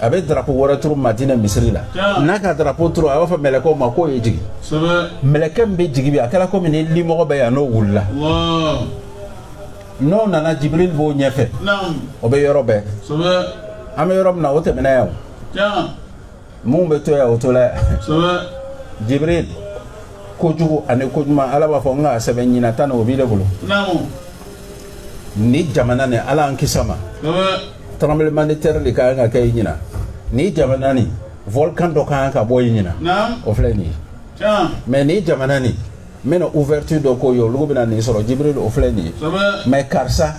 a bɛ darapo wɛrɛ turu Madina misiri la n'a ka darapo turu a b'a fɔ mɛlɛkɛw ma k'o ye jigin mɛlɛkɛ min bɛ jigin bi a kɛra komi ni limɔgɔ bɛ yan n'o wulila n'o nana Jibril b'o ɲɛfɛ o bɛ yɔrɔ bɛɛ an bɛ yɔrɔ min na o tɛmɛna yan o. min bɛ to yan o tola yan jibril kojugu ani koɲuman ala b'a fɔ n k'a sɛbɛn ɲinan tan o b'i le bolo ni jamana nin ala an kis'a ma tremblement de terre le ka kan ka kɛ yi ɲinan ni jamana nin volcan dɔ ka kan ka bɔ yi ɲinan o filɛ nin ye mais ni jamana nin n bɛna ouverture dɔ k'o ye olugu bɛna nin sɔrɔ jibril o filɛ nin ye mais karisa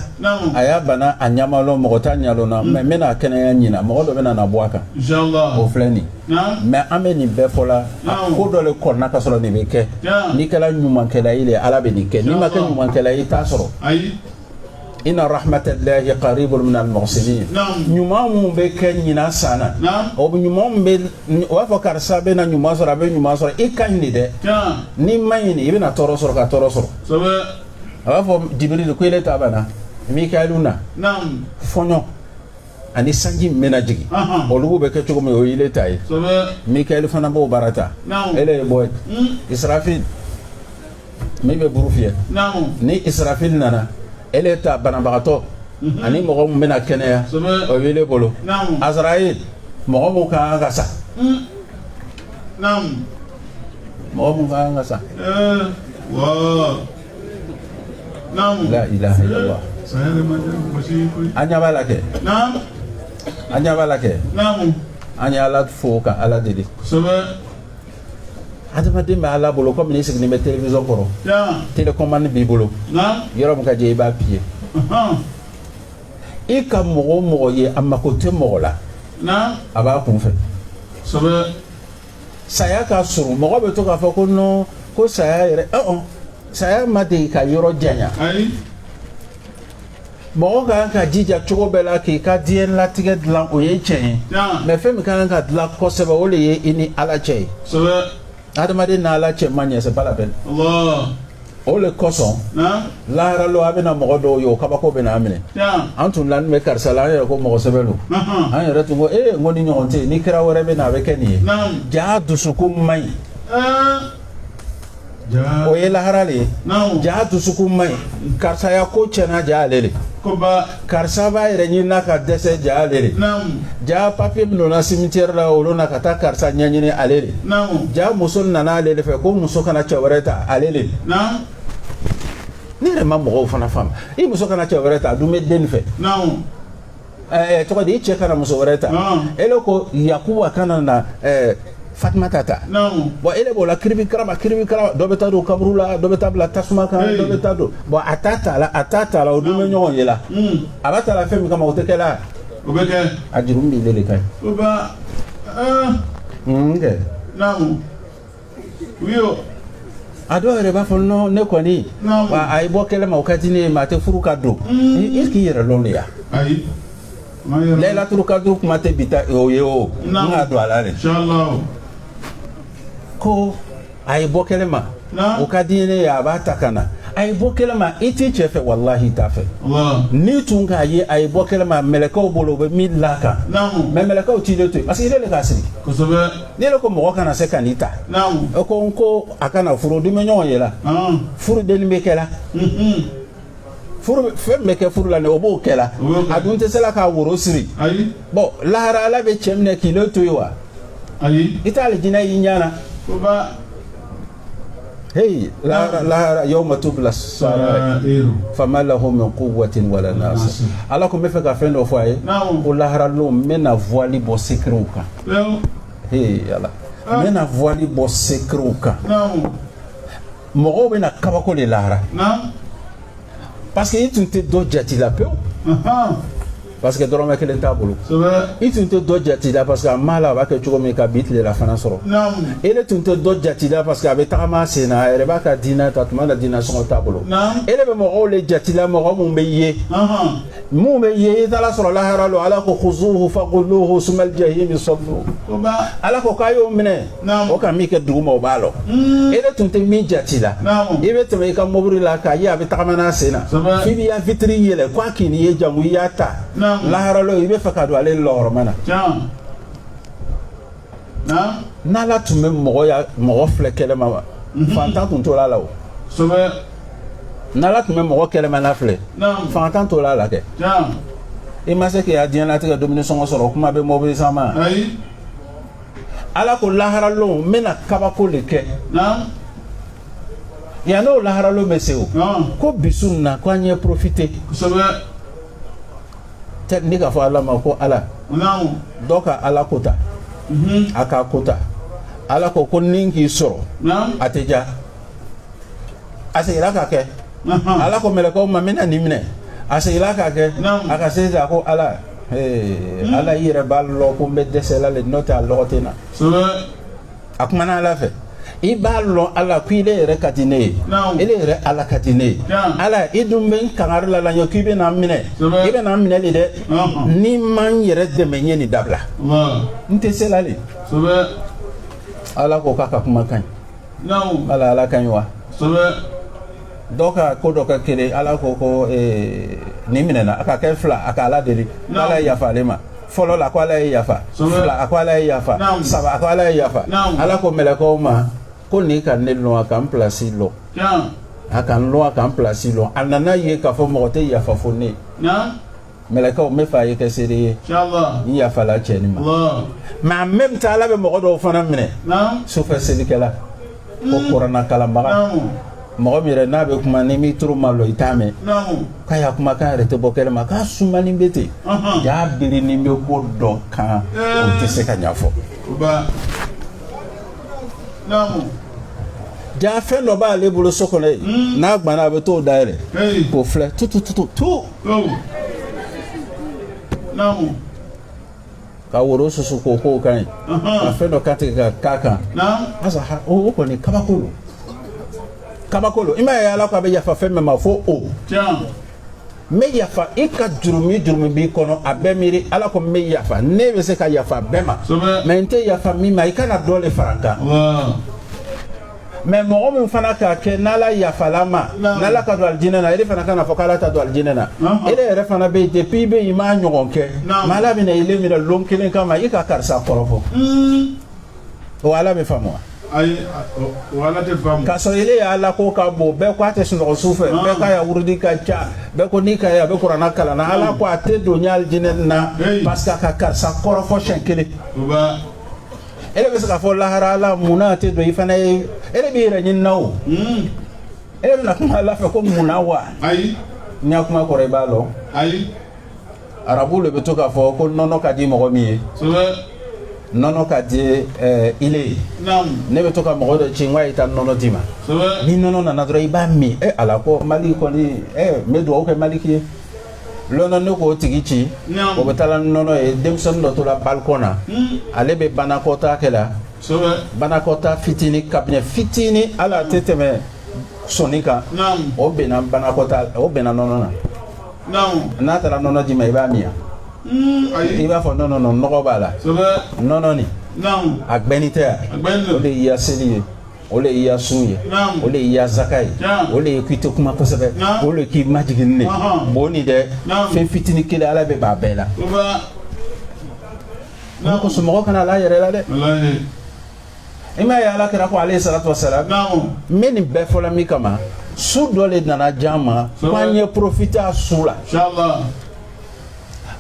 a ya bana a ɲa ma lɔn mɔgɔ t'a ɲa lɔnna mais n bɛna a kɛnɛya ɲinan mɔgɔ dɔ bɛna na bɔ a kan o filɛ nin mais an bɛ nin bɛɛ fɔ la a ko dɔ le kɔnɔna ka sɔrɔ nin bɛ kɛ n'i kɛra ɲumankɛla ye le ala bɛ nin kɛ n'i ma kɛ ɲumankɛla ye i t'a sɔrɔ inna rahmatallahi qaribu min al-muhsinin ɲuman min bɛ kɛ ɲinan san na o ɲuman min bɛ o b'a fɔ karisa bɛ na ɲuman sɔrɔ a bɛ ɲuman sɔrɔ i ka ɲi de dɛ n'i ma ɲi i bɛna tɔɔrɔ sɔrɔ ka tɔɔrɔ sɔrɔ a b'a fɔ jibiri ye ko ele ta banna mikayɛlu na fɔɲɔ ani sanji min bɛna jigin olugu bɛ kɛ cogo min o ye ele ta ye mikayɛlu fana b'o baara ta ele ye bɔ yen israfil min bɛ buru fiyɛ ni israfil nana ele ta banabagatɔ mhm. ani mɔgɔ min bɛna kɛnɛya o b'ele bolo azrail mɔgɔ min ka kan ka sa mm. mɔgɔ min ka kan ka sa eh, la ilaha illallah an ɲɛ b'a la kɛ an ɲɛ b'a la kɛ an ye ala fo ka ala deli adamaden bɛ ala bolo komi n'i siginin bɛ télévision kɔrɔ télécommande b'i bolo yɔrɔ min ka d'i ye i b'a appuyer i ka mɔgɔ o mɔgɔ ye a mako tɛ mɔgɔ la a b'a kun fɛ saya ka surun mɔgɔ bɛ to k'a fɔ ko non ko saya yɛrɛ saya ma deli ka yɔrɔ janya mɔgɔ ka kan ka jija cogo bɛɛ la k'i ka diɲɛ latigɛ dilan o ye tiɲɛ ye mais fɛn min ka kan ka dilan kosɛbɛ o le ye i ni ala cɛ ye adamaden n'ala cɛ man ɲɛ c'est valable o le kosɔn lahara lon a bɛna mɔgɔ dɔw ye o kabako bɛna a minɛ an tun lanin bɛ karisa la an yɛrɛ ko mɔgɔ sɛbɛ lo an yɛrɛ tun ko ee n ko nin ɲɔgɔn tɛ yen ni kira wɛrɛ bɛ na a bɛ kɛ nin ye jaa dusukun man ɲi o ye lahara le ye jaa dusukun man ɲi karisa ya ko tiɲɛna jaa ale le karisa b'a yɛrɛ ɲinina ka dɛsɛ jaa ale le jaa papier min donna cimetière la olu na ka taa karisa ɲɛɲini ale le jaa muso nana ale le fɛ ko muso kana cɛ wɛrɛ ta ale le ne yɛrɛ ma mɔgɔw fana faamu i muso kana cɛ wɛrɛ ta a dun bɛ den fɛ ɛɛ tɔgɔ di i cɛ kana muso wɛrɛ ta ele ko yakuba kana na ɛɛ fatimata ta bon ele b'o la kiribikaraba kiribikaraba dɔ bɛ taa don kaburu la dɔ bɛ taa bila tasuma kan dɔ bɛ taa don bon a t'a ta la a t'a ta la o dun bɛ ɲɔgɔn ye la a b'a ta la fɛn min kama o tɛ kɛ la o bɛ kɛ a juru min b'i le de ka ɲi o ba ɛɛ n kɛ naamu a dɔw yɛrɛ b'a fɔ non ne kɔni wa a ye bɔ kɛnɛ ma o ka di ne ye mais a tɛ furu ka don i k'i yɛrɛ lɔn dɛ ya layilatul kadiri kuma tɛ bi ta o ye o n ka don a la dɛ ko a ye bɔ kɛnɛ ma o ka di ne ye a b'a ta ka na a ye bɔ kɛnɛ ma i t'i cɛ fɛ walahi i t'a fɛ n'i tun k'a ye a ye bɔ kɛnɛ ma mɛlɛkɛw bolo u bɛ min la kan mais mɛlɛkɛw t'ile to yen parce que ile k'a sigi n'ile ko mɔgɔ kana se ka nin ta e ko n ko a kana furu o dun bɛ ɲɔgɔn ye la furu denni bɛ kɛ la fɛn min bɛ kɛ furu la o b'o kɛ la a dun tɛ se la k'a woro siri bon lahara ala bɛ cɛ minɛ k'ile to yen wa i t'alijinɛ y'i ɲɛ na hey lahara lahara yawma tubla sarairu fama lahu min quwwatin wala nasir ala ko n bɛ fɛ ka fɛn dɔ fɔ a ye Naamu. ko lahara lon n bɛna voile bɔ secretw kan Leo. hey ala n bɛna voile bɔ secretw kan Naamu. mɔgɔw bɛna kabako le lahara Naam. parce que i tun tɛ dɔ jati la pewu Aha. parce que dɔrɔmɛ kelen t'a bolo i tun tɛ dɔ jati la parce que a m'a lɔn a b'a kɛ cogo min ka bi tilelafana sɔrɔ ele tun tɛ dɔ jati la parce que a bɛ tagama a sen na a yɛrɛ b'a ka diinɛ ta tuma na diinɛ sɔngɔ t'a bolo ele bɛ mɔgɔw le jati la mɔgɔ minnu bɛ ye minnu bɛ ye i taara sɔrɔ lahara lon ala ko khuzuhu faghulluhu summal jahima sallu ala ko k'a y'o minɛ o ka min kɛ duguma o b'a lɔn hmm. e de tun tɛ min jati la i bɛ tɛmɛ i ka mobili la k'a ye a bɛ tagama n'a sen na f'i b'i ya vitiri yɛlɛ k'a kan'i ye janko i y'a ta laharalon i bɛ fɛ ka don ale lɔgɔrɔma na n'ala tun bɛ mɔgɔ ya mɔgɔ filɛ kɛnɛma wa mhm. fantan tun tɔɔrɔla o n'ala tun bɛ mɔgɔ kɛnɛmana filɛ fantan tɔɔrɔla kɛ i ma se k'i ya diɲɛlatigɛ dumuni sɔngɔ sɔrɔ kuma tɛ mobili san ma ala ko laharalon n bɛna kabako de kɛ yan n'o laharalon bɛ se o ko bi su nin na ko an ye profite ni k'a fɔ ala ma ko ala dɔ ka ala ko ta mhm. a k'a ko ta ala ko ko nin k'i sɔrɔ a tɛ ja a seginna k'a kɛ ala ko mɛlɛkɛw ma n bɛna nin minɛ a seginna k'a kɛ a ka se a ko ala hmm. ala i yɛrɛ b'a lɔn ko n bɛ dɛsɛla le n'o tɛ a lɔgɔ tɛ n na a kumana ala fɛ i b'a lɔn ala ko ile yɛrɛ ka di ne ye ile yɛrɛ ala ka di ne ye ala i dun bɛ n kangari la la ɲɛ k'i bɛna n minɛ i bɛna n minɛ le dɛ n'i ma n yɛrɛ dɛmɛ n ye nin dabila n tɛ se la le ala ko k'a ka kuma ka ɲi Namu, Ala Ala ka ɲi wa kosɛbɛ dɔ ka ko dɔ kɛ kelen Ala ko ko ee, nin minɛna a ka kɛ fila a ka Ala deli ko Ala ye yafa ale ma fɔlɔ la ko Ala ye yafa Kosɛbɛ. fila a ko Ala ye yafa Naamu. saba a ko Ala ye yafa Naamu. Ala ko mɛlɛkɛw ma ko nin ka ne lɔn a ka n pilasi lɔn can a ka n lɔn a ka n pilasi lɔn a nana ye k'a fɔ mɔgɔ tɛ yafa fo ne ye na mɛlɛkɛw n bɛ fɛ a ye kɛ seere ye n yafala cɛ nin ma mɛ a mɛn ta ala bɛ mɔgɔ dɔw fana minɛ sufɛ selikɛla ko hmm. kurana kalanbaga mɔgɔ min yɛrɛ n'a bɛ kuma n'i m'i tulo malɔ i t'a mɛn k'a ya kumakan yɛrɛ tɛ bɔ kɛnɛ ma k'a sumanin bɛ ten jaa birinin bɛ ko dɔ kan o tɛ se k'a ɲɛfɔ jaa fɛn dɔ b'ale bolo so kɔnɔ yen hmm. n'a gbanna a bɛ t'o dayɛlɛ k'o filɛ tutututu ka woro susu ko ko ka ɲi ka fɛn dɔ kantigɛ ka k'a kan asa o kɔni kabako lo kabako lo i m'a ye ala ko a bɛ yafa fɛn min ma fo o n bɛ yafa i ka jurumi jurumi b'i kɔnɔ a bɛɛ miiri ala ko n bɛ yafa ne bɛ se ka yafa a bɛɛ ma mɛ n tɛ yafa min ma i kana dɔ le fara n kan mɛ mɔgɔ min fana k'a kɛ n'ala yafala ma n'ala k'a don alijinɛ na ele fana kana fɔ k'ala t'a don alijinɛ na ele yɛrɛ fana bɛ yen depuis i bɛ yen i m'a ɲɔgɔn kɛ mɛ ala bɛna ile minɛ lon kelen kama i ka karisa kɔrɔfɔ o ala bɛ faamu wa ayi o ala tɛ faamu k'a sɔrɔ ele ya alako ka bon bɛɛ ko a tɛ sunɔgɔ su fɛ bɛɛ k'a ya wurudi ka ca bɛɛ ko n'i k'a ye a bɛ kurana kalanna ala ko a tɛ don n ya alijinɛ na parce que a ka karisa kɔrɔfɔ siɲɛ kelen ele bɛ se k'a fɔ lahara la mun tɛ don i fana ye ele b'i yɛrɛ ɲini na o ele bɛna kuma ala fɛ ko mun wa ayi n y'a kuma kɔrɔ i b'a lɔn ayi arabu le bɛ to k'a fɔ ko nɔnɔ ka di mɔgɔ min ye nɔnɔ ka di eh, ile ye ne bɛ to ka mɔgɔ dɔ ci n k'a ye taa nɔnɔ d'i ma ni nɔnɔ nana dɔrɔn i b'a min e ala ko mali kɔni eh, n bɛ dugawu kɛ maliki ye lɔnɔ ne k'o tigi ci o bɛ taa ni nɔnɔ ye denmisɛnnin dɔ tora balikɔn na hmm. ale bɛ banakɔta kɛ la banakɔta fitinin kabinɛ fitinin ala tɛ tɛmɛ sɔni kan o benna banakɔta o benna nɔnɔ na n'a taara nɔnɔ d'i ma i b'a min hmm, i b'a fɔ nɔnɔ nɔgɔ b'a la nɔnɔ nin a gbɛnin tɛ wa o le y'i ya seli ye o le y'i ya sun ye o le y'i ya zaka ye o le ye k'i to kuma kosɛbɛ o le k'i majigin ile bon nin dɛ fɛn fitinin kelen ala bɛ ban a bɛɛ la a kosɔn mɔgɔ kana la a yɛrɛ la dɛ i m'a ye ala kira ko aleyi salatu wa salam n bɛ nin bɛɛ fɔla min kama su dɔ le nana jama ko an ye profiter a su la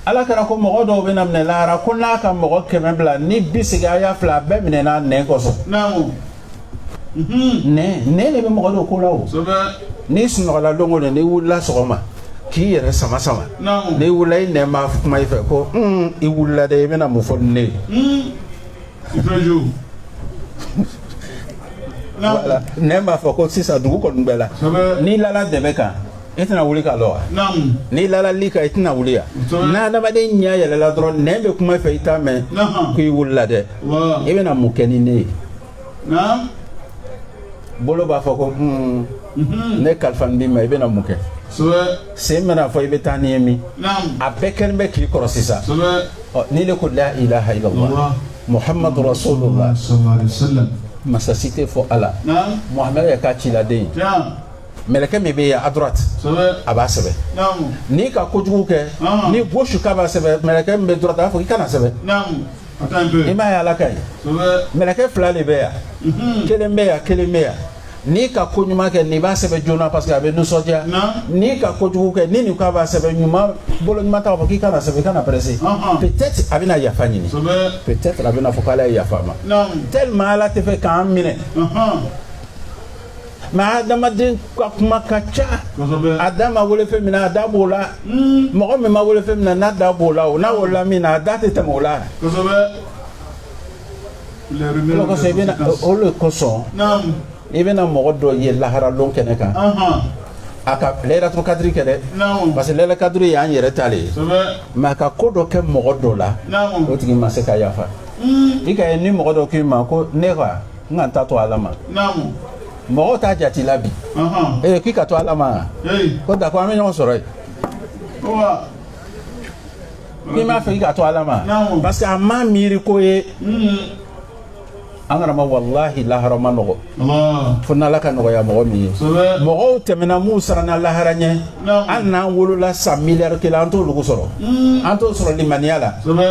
ala kira ko mɔgɔ dɔw bɛna minɛ lahara ko n'a ka mɔgɔ kɛmɛ bila ni bi sigi a y'a fila a bɛɛ minɛna a nɛn kosɔn nɛn nɛn le bɛ mɔgɔ don ko la o n'i sunɔgɔla lon o lon n'i wulila sɔgɔma k'i yɛrɛ sama sama n'i wulila i nɛn bɛ kuma i fɛ ko i wulila dɛ i bɛna mun fɔ ni ne ye nɛn b'a fɔ ko sisan dugu kɔni gbɛla n'i lala dɛbɛ kan i tɛna wuli ka lɔ wa n'i lala lit kan i tɛna wuli wa n'adamaden ɲɛ yɛlɛla dɔrɔn nɛn bɛ kuma i fɛ i t'a mɛn ko i wulila dɛ i bɛna mun kɛ ni ne ye bolo b'a fɔ ko hmm, mhm. ne kalifanin b'i ma i bɛna mun kɛ sen bɛn'a fɔ i bɛ taa ni n ye min a bɛɛ kɛnin bɛ k'i kɔrɔsi sa n'ile ko la ilaha illallah muhammadu rasulullah masa si tɛ fo ala muhamadu le y'a ka ciladen ye mɛlɛkɛ min bɛ yan à droite a b'a sɛbɛn n'i ka kojugu kɛ ni gauche k'a b'a sɛbɛn mɛlɛkɛ min bɛ droite a b'a fɔ i kana sɛbɛn i m'a ye ala ka ye mɛlɛkɛ fila de bɛ yan mhm. kelen bɛ yan kelen bɛ yan n'i ka ko ɲuman kɛ nin b'a sɛbɛn joona parce que a bɛ nisɔndiya n'i ka kojugu kɛ ni nin k'a b'a sɛbɛn ɲuman bolo ɲuman ta b'a fɔ k'i kana sɛbɛn i kana presser peut-être a bɛna yafa ɲini peut-être a bɛn'a fɔ k'ala ye yafa n ma tellement ala t'a fɛ k'an minɛ mais adamaden ka kuma ka ca a da ma wele fɛn min na a da b'o la hmm. mɔgɔ min ma wele fɛn min na n'a da b'o la o n'a welela min na a da tɛ tɛmɛ o la o de kosɔn i bɛna mɔgɔ dɔ ye laharalon kɛnɛ kan a ka layilatul kadiri kɛ dɛ parce que layilatul kadiri y'an yɛrɛ ta de ye mais a ka ko dɔ kɛ mɔgɔ dɔ la o tigi ma se ka yafa hmm. i ka ye ni mɔgɔ dɔ k'i ma ko ne ka n ka n ta to ala ma mɔgɔw t'a jati la bi ee k'i k'a to ala ma ko d'accord an bɛ ɲɔgɔn sɔrɔ yen n'i m'a fɛ i k'a to ala ma parce que a ma miiri ko ye an kana ma walahi lahara man nɔgɔ fo n'ala k'a nɔgɔya mɔgɔ min ye mɔgɔw tɛmɛna minnu siranna lahara ɲɛ an n'an wolola san miliyari kelen an t'olugu sɔrɔ hmm. an t'o sɔrɔ limaniya la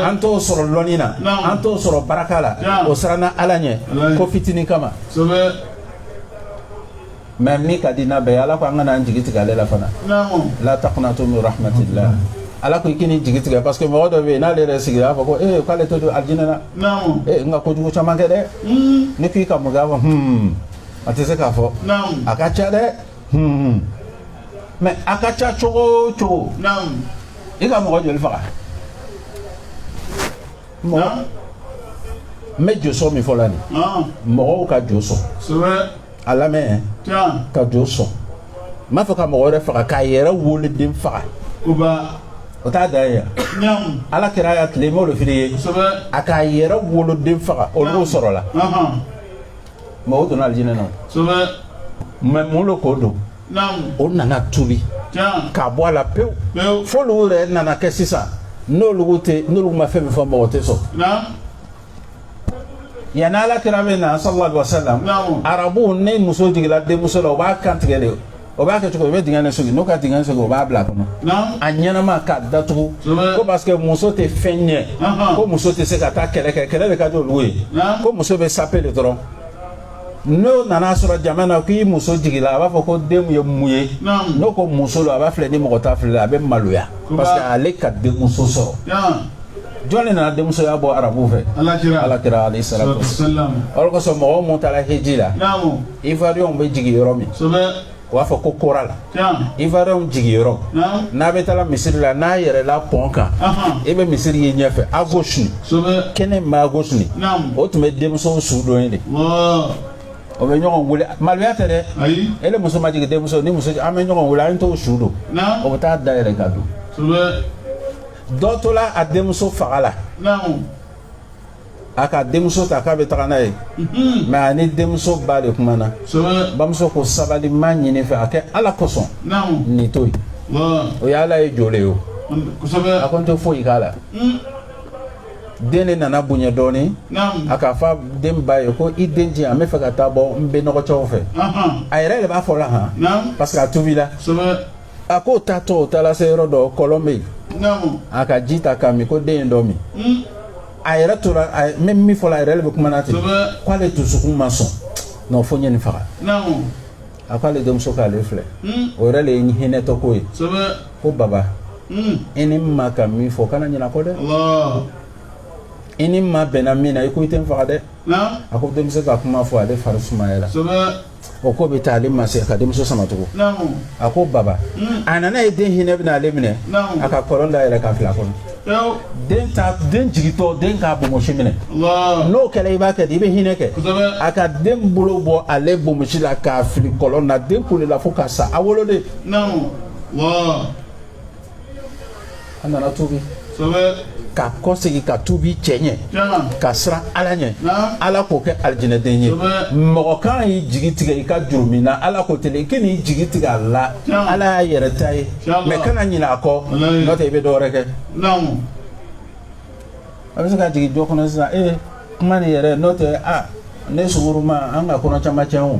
an t'o sɔrɔ lɔnni na an t'o sɔrɔ baraka la o siranna ala ɲɛ ko fitinin kama mais min ka di n'a bɛɛ ye ala ko an kana an jigi tigɛ ale la fana la takunatu min rahmatillah ala ko i kan'i jigi tigɛ parce que mɔgɔ dɔ bɛ yen n'ale yɛrɛ sigira a b'a fɔ ko ee k'ale tɛ don alijinɛ na ee n ka kojugu caman kɛ dɛ hmm. ne k'i ka mun kɛ a b'a fɔ hmm a tɛ se k'a fɔ a ka ca dɛ hun mais a ka ca cogo o cogo naamu i ka mɔgɔ joli faga mɔgɔ naamu n bɛ josɔn min fɔ la nin ɔn mɔgɔw ka jo sɔn sɛbɛ a lamɛn can ka jo sɔn n m'a fɔ ka mɔgɔ wɛrɛ faga k'a yɛrɛ woloden faga o ba o t'a dan ye yan naamu ala kira ka tile m'o de fili ye sɛbɛ a k'a yɛrɛ woloden faga olu sɔrɔla ɔhɔn mɔgɔw donna alijinɛ na kosɛbɛ mais mun lo k'o don naamu o nana tubi tiɲɛ k'a bɔ a la pewu pewu fo olu yɛrɛ nana kɛ sisan n'olu tɛ n'olu ma fɛn min fɔ mɔgɔ tɛ sɔn naamu yanni ala kira bɛ na sallallahu alaihi wa sallam Naamu. arabuw ni muso jiginna denmuso la u b'a kan tigɛ de o b'a kɛ cogo o bɛ dingɛ de sigi n'o ka dingɛ sigi o b'a bila kɔnɔ a ɲɛnama k'a datugu ko parce que muso tɛ fɛn ɲɛ ko muso tɛ se ka taa kɛlɛ kɛ kɛlɛ de ka di olu ye ko muso bɛ sape de dɔrɔn n'o nana sɔrɔ jama na k'i muso jigila a b'a fɔ ko den ye mun ye n'o ko muso don a b'a filɛ ni mɔgɔ t'a filɛ a bɛ maloya parce que ale ka denmuso sɔrɔ jɔn de nana denmusoya bɔ arabuw fɛ ala kira alayhi salatu wasalam o de kosɔn mɔgɔ min taara heji la Ivoirienw bɛ jigin yɔrɔ min u b'a fɔ ko kora la ivoirien jigin yɔrɔ n'a bɛ taa misiri la n'a yɛrɛla pɔn kan i bɛ misiri ye ɲɛfɛ à gauche nin kɛnɛ ma à gauche nin o tun bɛ denmuso su don yen de o bɛ ɲɔgɔn weele maloya tɛ dɛ ele muso ma jigin denmuso ni muso an bɛ ɲɔgɔn weele an t'o su don o bɛ taa da yɛrɛ ka don dɔ tola a denmuso faga la a ka denmuso ta k'a bɛ taga n'a ye mɛ a ni denmuso ba le kumana bamuso ko sabali n b'a ɲini i fɛ a kɛ ala kosɔn nin to yen o ye ala ye jɔlen ye o a ko n tɛ foyi k'a la den de nana bonya dɔɔnin a k'a fɔ den ba ye ko i den di yan n bɛ fɛ ka taa bɔ n bɛnɔgɔcɛw fɛ a yɛrɛ de b'a fɔ la hɔn parce que a tubila a ko o taatɔ o taara se yɔrɔ dɔ kɔlɔn bɛ yen a ka ji ta k'a min ko den ye dɔ min hmm. a yɛrɛ tora a mɛ min fɔla a yɛrɛ de bɛ kuma na ten k'ale dusukun ma sɔn nɔ fo n ye nin faga a ko ale denmuso k'ale filɛ hmm. o yɛrɛ de ye hinɛtɔ ko ye ko baba hmm. i ni n ma ka min fɔ kana ɲinɛ a kɔ dɛ i ni n ma bɛnna min na i ko i tɛ n faga dɛ a ko denmuso ka kuma fɔ ale fari sumayara o ko bɛ taa ale ma se ka denmuso sama tugun a ko baba hmm. a nana a ye den hinɛ bɛna ale minɛ a ka kɔlɔn da yɛlɛ k'a fili a kɔnɔ den ta den jigitɔ den k'a bomosi minɛ n'o kɛra i b'a kɛ di i bɛ hinɛ kɛ a ka den bolo bɔ ale bomosi la k'a fili kɔlɔn na den kulela fo ka sa a woloden a nana tubi ka kɔ segin ka tubi cɛɲɛ ka siran ala ɲɛ ala k'o kɛ alijinɛden ye mɔgɔ kan'i jigi tigɛ i ka jurumun na ala ko tɛ i kɛ n'i jigi tigɛ a la ala y'a yɛrɛ ta ye mɛ kana ɲinɛ a kɔ n'o tɛ i bɛ dɔwɛrɛ kɛ a bɛ se ka jigin jɔ kɔnɔ sisan ee kuma nin yɛrɛ n'o tɛ a ne sunguruma an ka kɔnɔ caman cɛn o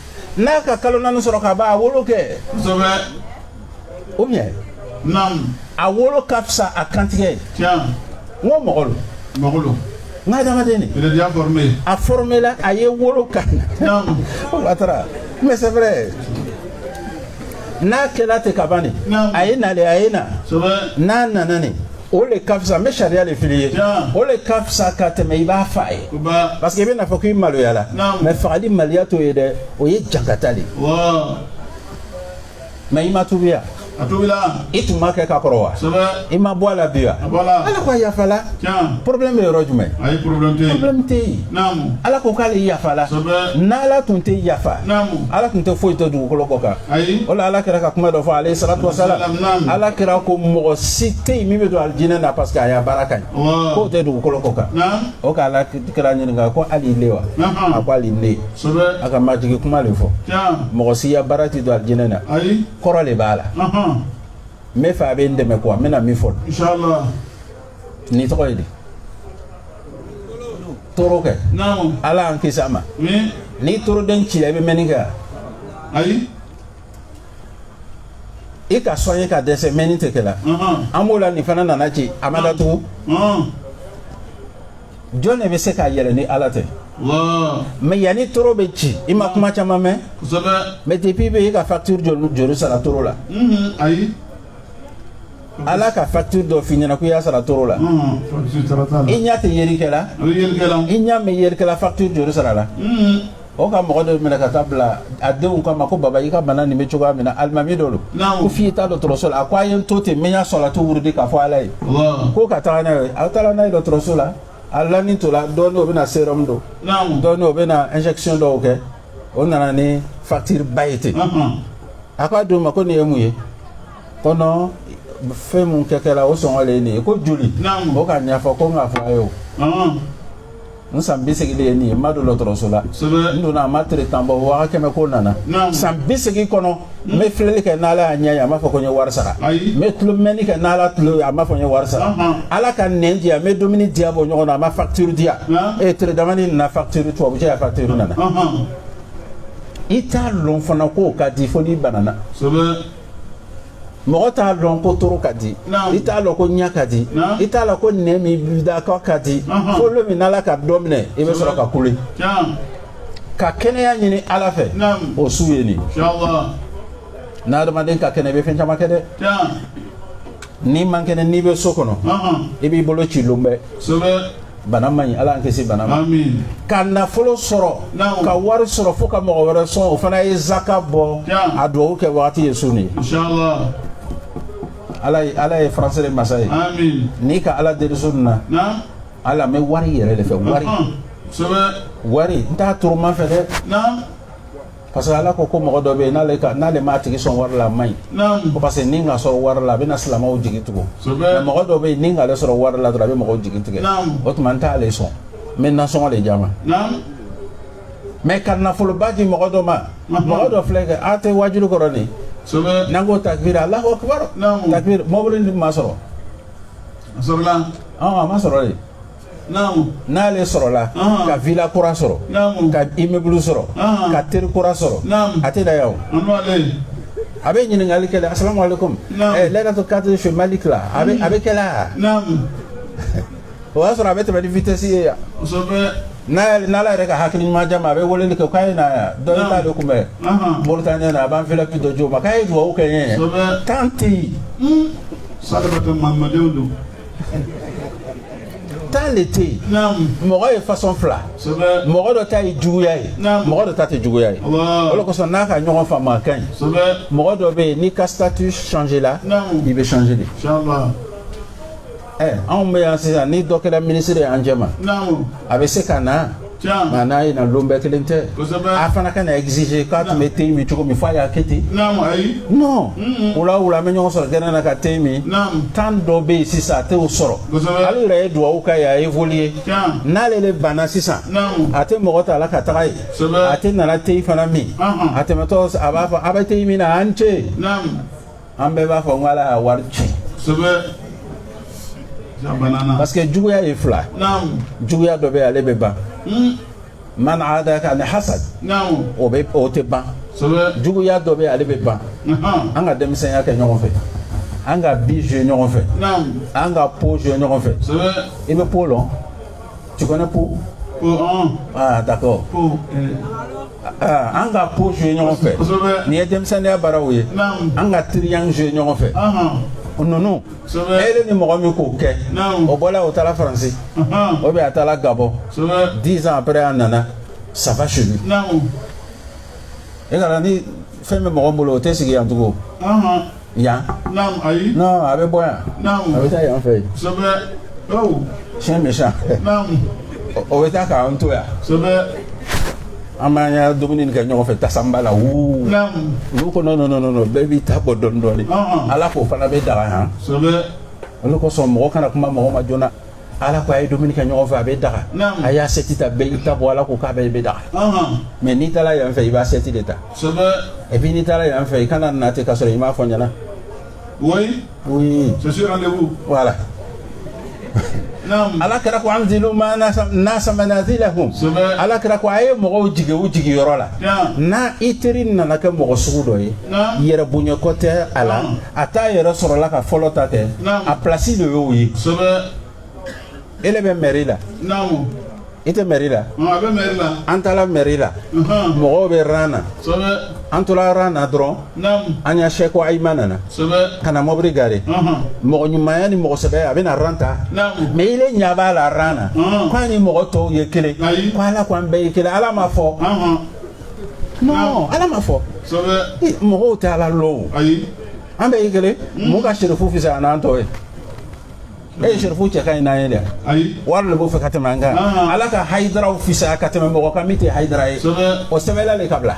n'a ka kalo naani sɔrɔ ka ban a wolo kɛ kosɛbɛ o ɲɛ naamu a wolo ka fisa a kantigɛ ye tiɲɛ n ko mɔgɔ lo mɔgɔ lo n ka adamaden de il a déjà formé a formela a ye wolo ka naamu o atara mais c'est vrai n'a kɛla ten ka ban de a ye na de a ye na n'a nana ne o le ka fisa n bɛ sariya de fili ye o le ka fisa ka tɛmɛ i b'a fa ye parce que i bɛ n'a fɔ k'i maloyala mɛ fagali maloya t'o ye dɛ o ye jankata de mɛ i ma tubiya i tun b'a kɛ ka kɔrɔ wa i ma bɔ a la bi wa ala ko a yafala problème bɛ yɔrɔ jumɛn problème tɛ yen ala ko k'ale yafala n'ala tun tɛ yafa ala tun tɛ foyi to dugukolo kɔ kan o la ala kira ka kuma dɔ fɔ aleyi salatu wasalam ala kira ko mɔgɔ si tɛ yen min bɛ don alijinɛ na parce que a ya baara ka ɲi k'o tɛ dugukolo kɔ kan o ka ala kira ɲininka ko hali ile wa a ko hali ne a ka majigi kuma de fɔ mɔgɔ si ya baara tɛ don alijinɛ na kɔrɔ de b'a la n b'a fɛ a bɛ n dɛmɛ kuma n bɛna min fɔ n'i tɔgɔ ye di toro kɛ ala y'an kisi a ma n'i toroden cila i bɛ mɛnni kɛ ayi i k'a soigner ka dɛsɛ mɛnni tɛ kɛ la an b'o la nin fana nana ci a ma datugu jɔn de bɛ se k'a yɛlɛ ni ala tɛ mais yanni toro bɛ ci i ma kuma caman mɛn mais depuis bɛ e ka facture joli sara toro la ayi ala ka facture dɔ f'i ɲɛna ko i y'a sara toro la i ɲɛ tɛ yeri kɛ la i ɲɛ bɛ yeri kɛ la facture joli sarala o ka mɔgɔ dɔ minɛ ka taa bila a denw k'a ma ko baba i ka bana nin bɛ cogoya min na alimami dɔ don ko f'i ye taa dɔgɔtɔrɔso la a ko a ye n to ten min y'a sɔrɔ tu wurudi k'a fɔ ala ye ko ka taga n'a ye a taara n'a ye dɔgɔtɔrɔso la a lani tola dɔɔni o bɛna sérum don dɔɔni o bɛna injection dɔw kɛ o nana ni facture ba ye ten a k'a d'u ma ko nin ye mun ye ko non fɛn mun kɛ kɛra o sɔngɔ de ye nin ye ko joli o k'a ɲɛfɔ ko n k'a fɔ a ye o n san bi segin de ye nin ye n ma don dɔgɔtɔrɔso la n donna a ma tere tan bɔ waa kɛmɛ ko nana san bi segin kɔnɔ n bɛ filɛli kɛ n'ala ya ɲɛ ye a m'a fɔ ko n ye wari sara n bɛ tulo mɛnni kɛ n'ala tulo ye a m'a fɔ n ye wari sara ala ka nɛn di yan n bɛ dumuni diya bɔ ɲɔgɔn na a ma facture di yan ee tere damanin na facture tubabu cɛ ya facture nana i t'a lɔn fana k'o ka di fo n'i banana mɔgɔ t'a lɔn ko toro ka di i t'a lɔn ko ɲɛ ka di i t'a lɔn ko nɛn min b'i da kɔ ka di fo lon min n'ala ka dɔ minɛ i bɛ sɔrɔ ka kule ka kɛnɛya ɲini ala fɛ o su ye nin n'adamaden ka kɛnɛ i bɛ fɛn caman kɛ dɛ n'i man kɛnɛ n'i bɛ so kɔnɔ i b'i bolo ci lon bɛɛ bana man ɲi ala an kisi bana ma ka nafolo sɔrɔ ka wari sɔrɔ fo ka mɔgɔ wɛrɛ sɔn o fana ye zaka bɔ a dugawu kɛ wagati ye sun ye ala ye ala ye faransi de masa ye n'i ka ala deli sun na ala n bɛ wari yɛrɛ de fɛ wari wari n t'a toroma fɛ dɛ parce que ala ko ko mɔgɔ dɔ bɛ yen n'ale ka n'ale m'a tigi sɔn wari la a man ɲi ko parce que ni n k'a sɔn wari la a bɛna silamɛw jigi tugu mais mɔgɔ dɔ bɛ yen ni n k'ale sɔn wari la dɔrɔn a bɛ mɔgɔw jigi tigɛ o tuma n t'ale sɔn n bɛ nasɔngɔ de d'a ma mais ka nafoloba di mɔgɔ dɔ ma mɔgɔ dɔ filɛ kɛ a tɛ wajuli kɔrɔ nin n'an ko takbir alahu akbar takbir mɔbili ma sɔrɔ a sɔrɔla a ma sɔrɔ de n'ale sɔrɔla ka villa kura sɔrɔ ka immeuble sɔrɔ ka teri kura sɔrɔ a tɛ da yawo a bɛ ɲininkali kɛ asalamu alaikum eh, lɛrɛtɔ kadiri fɛ mali tila a bɛ a bɛ kɛ la o y'a sɔrɔ a bɛ tɛmɛ ni vitesse ye yan n'ala yɛrɛ ka hakili ɲuman di a ma a bɛ weleli kɛ k'a ye na yan dɔ in t'ale kunbɛn moritaniyɛn na a b'an fɛlɛ bi dɔ jo ma k'a ye dugawu kɛ n ye tan tɛ yen. sadabata mamadenw don. tan de tɛ yen mɔgɔ ye fasɔn fila mɔgɔ dɔ ta ye juguya ye mɔgɔ dɔ ta tɛ juguya ye o de kosɔn n'a ka ɲɔgɔn faamuya ka ɲi mɔgɔ dɔ bɛ yen n'i ka statut changer la i bɛ changer de ɛ anw bɛ yan sisan ni dɔ kɛra ministre ye an cɛma a bɛ se ka na Nka n'a ye na don bɛɛ kelen tɛ a fana kana exiger k'a tun bɛ te min cogo min fo a y'a kɛ ten wula wula bɛ ɲɔgɔn sɔrɔ kɛnɛ na ka te min tan dɔ bɛ yen sisan a tɛ sɔrɔ ale yɛrɛ ye dugawu k'a ye évoluer n'ale de banna sisan a tɛ mɔgɔ ta la ka taga yen a tɛna na te fana min a tɛmɛtɔ a b'a fɔ a bɛ te min na an ce an bɛɛ b'a fɔ n ala y'a wari ci parce que juguya ye fila juguya dɔ bɛ ale bɛ ban hmm. man adaka an hasad o bɛ o tɛ ban juguya dɔ bɛ ale bɛ ban an ka denmisɛnya kɛ ɲɔgɔn fɛ an ka bille jouer ɲɔgɔn fɛ an ka po jouer ɲɔgɔn fɛ i bɛ po lɔn tu connais po ah d'accord An ka po jouer ɲɔgɔn fɛ nin ye denmisɛnninya baaraw ye an ka train jouer ɲɔgɔn fɛ ninnu e ni mɔgɔ min k'o kɛ o bɔra o taara faransi ou bien a taara gabɔn dix ans après a nana ça va chez lui e kana ni fɛn bɛ mɔgɔ bolo o tɛ sigi yan tugun yan Naam ayi. non a bɛ bɔ yan Naam. a bɛ taa yan fɛ yen Sɛbɛ. Aw. siyɛn bɛ san Naam. o bɛ taa k'an to yan Sɛbɛ. an b'an ka dumuni kɛ ɲɔgɔn fɛ tasanba la wuu Naam. olu ko non non non non bɛɛ b'i ta bɔ dɔɔni dɔɔni Ɔn, ɔn. ala k'o fana bɛ daga yan Sɛbɛ. o le kosɔn mɔgɔ kana kuma mɔgɔ ma joona ala ko a ye dumuni kɛ ɲɔgɔn fɛ a bɛ daga a y'assiette ta bɛɛ i ta bɔ ala ko k'a bɛɛ i bɛ daga mais n'i taara yan fɛ i b'assiette de ta et puis n'i taara yan fɛ i kana na ten ka sɔrɔ i m'a fɔ ɲɛna oui oui c'est sûr rendez-vous voilà ala kira ko anzilu nasa manazilahum ala kira ko a ye mɔgɔw jigi u jigi yɔrɔ la n'a i teri nana kɛ mɔgɔ sugu dɔ ye yɛrɛbonya ko tɛ a la a t'a yɛrɛ sɔrɔla ka fɔlɔ ta kɛ a plasi de y'o ye e le bɛ mɛri la i tɛ mɛri la an taara mɛri la mɔgɔw bɛ ran na an tora ran na dɔrɔn an y'a sɛko ayima nana ka na mɔbiri gare mɔgɔ ɲumanya ni mɔgɔ sɛbɛ a bɛna ran ta mɛ i le ɲa b'a la ran na k'a ni mɔgɔ tɔw ye kelen ko ala ko an bɛɛ ye kelen ala m'a fɔ non ala m'a fɔ mɔgɔw tɛ ala lɔn o an bɛɛ ye kelen hmm? mɔgɔ ka sirifu fisaya n'an tɔw ye e ye sirifu cɛ ka ɲi n'an ye dɛ wari de b'o fɛ ka tɛmɛ an kan ah. ala ka hayidaraw fisa ka tɛmɛ mɔgɔ kan min tɛ hayidara ye o sɛbɛnla de ka bila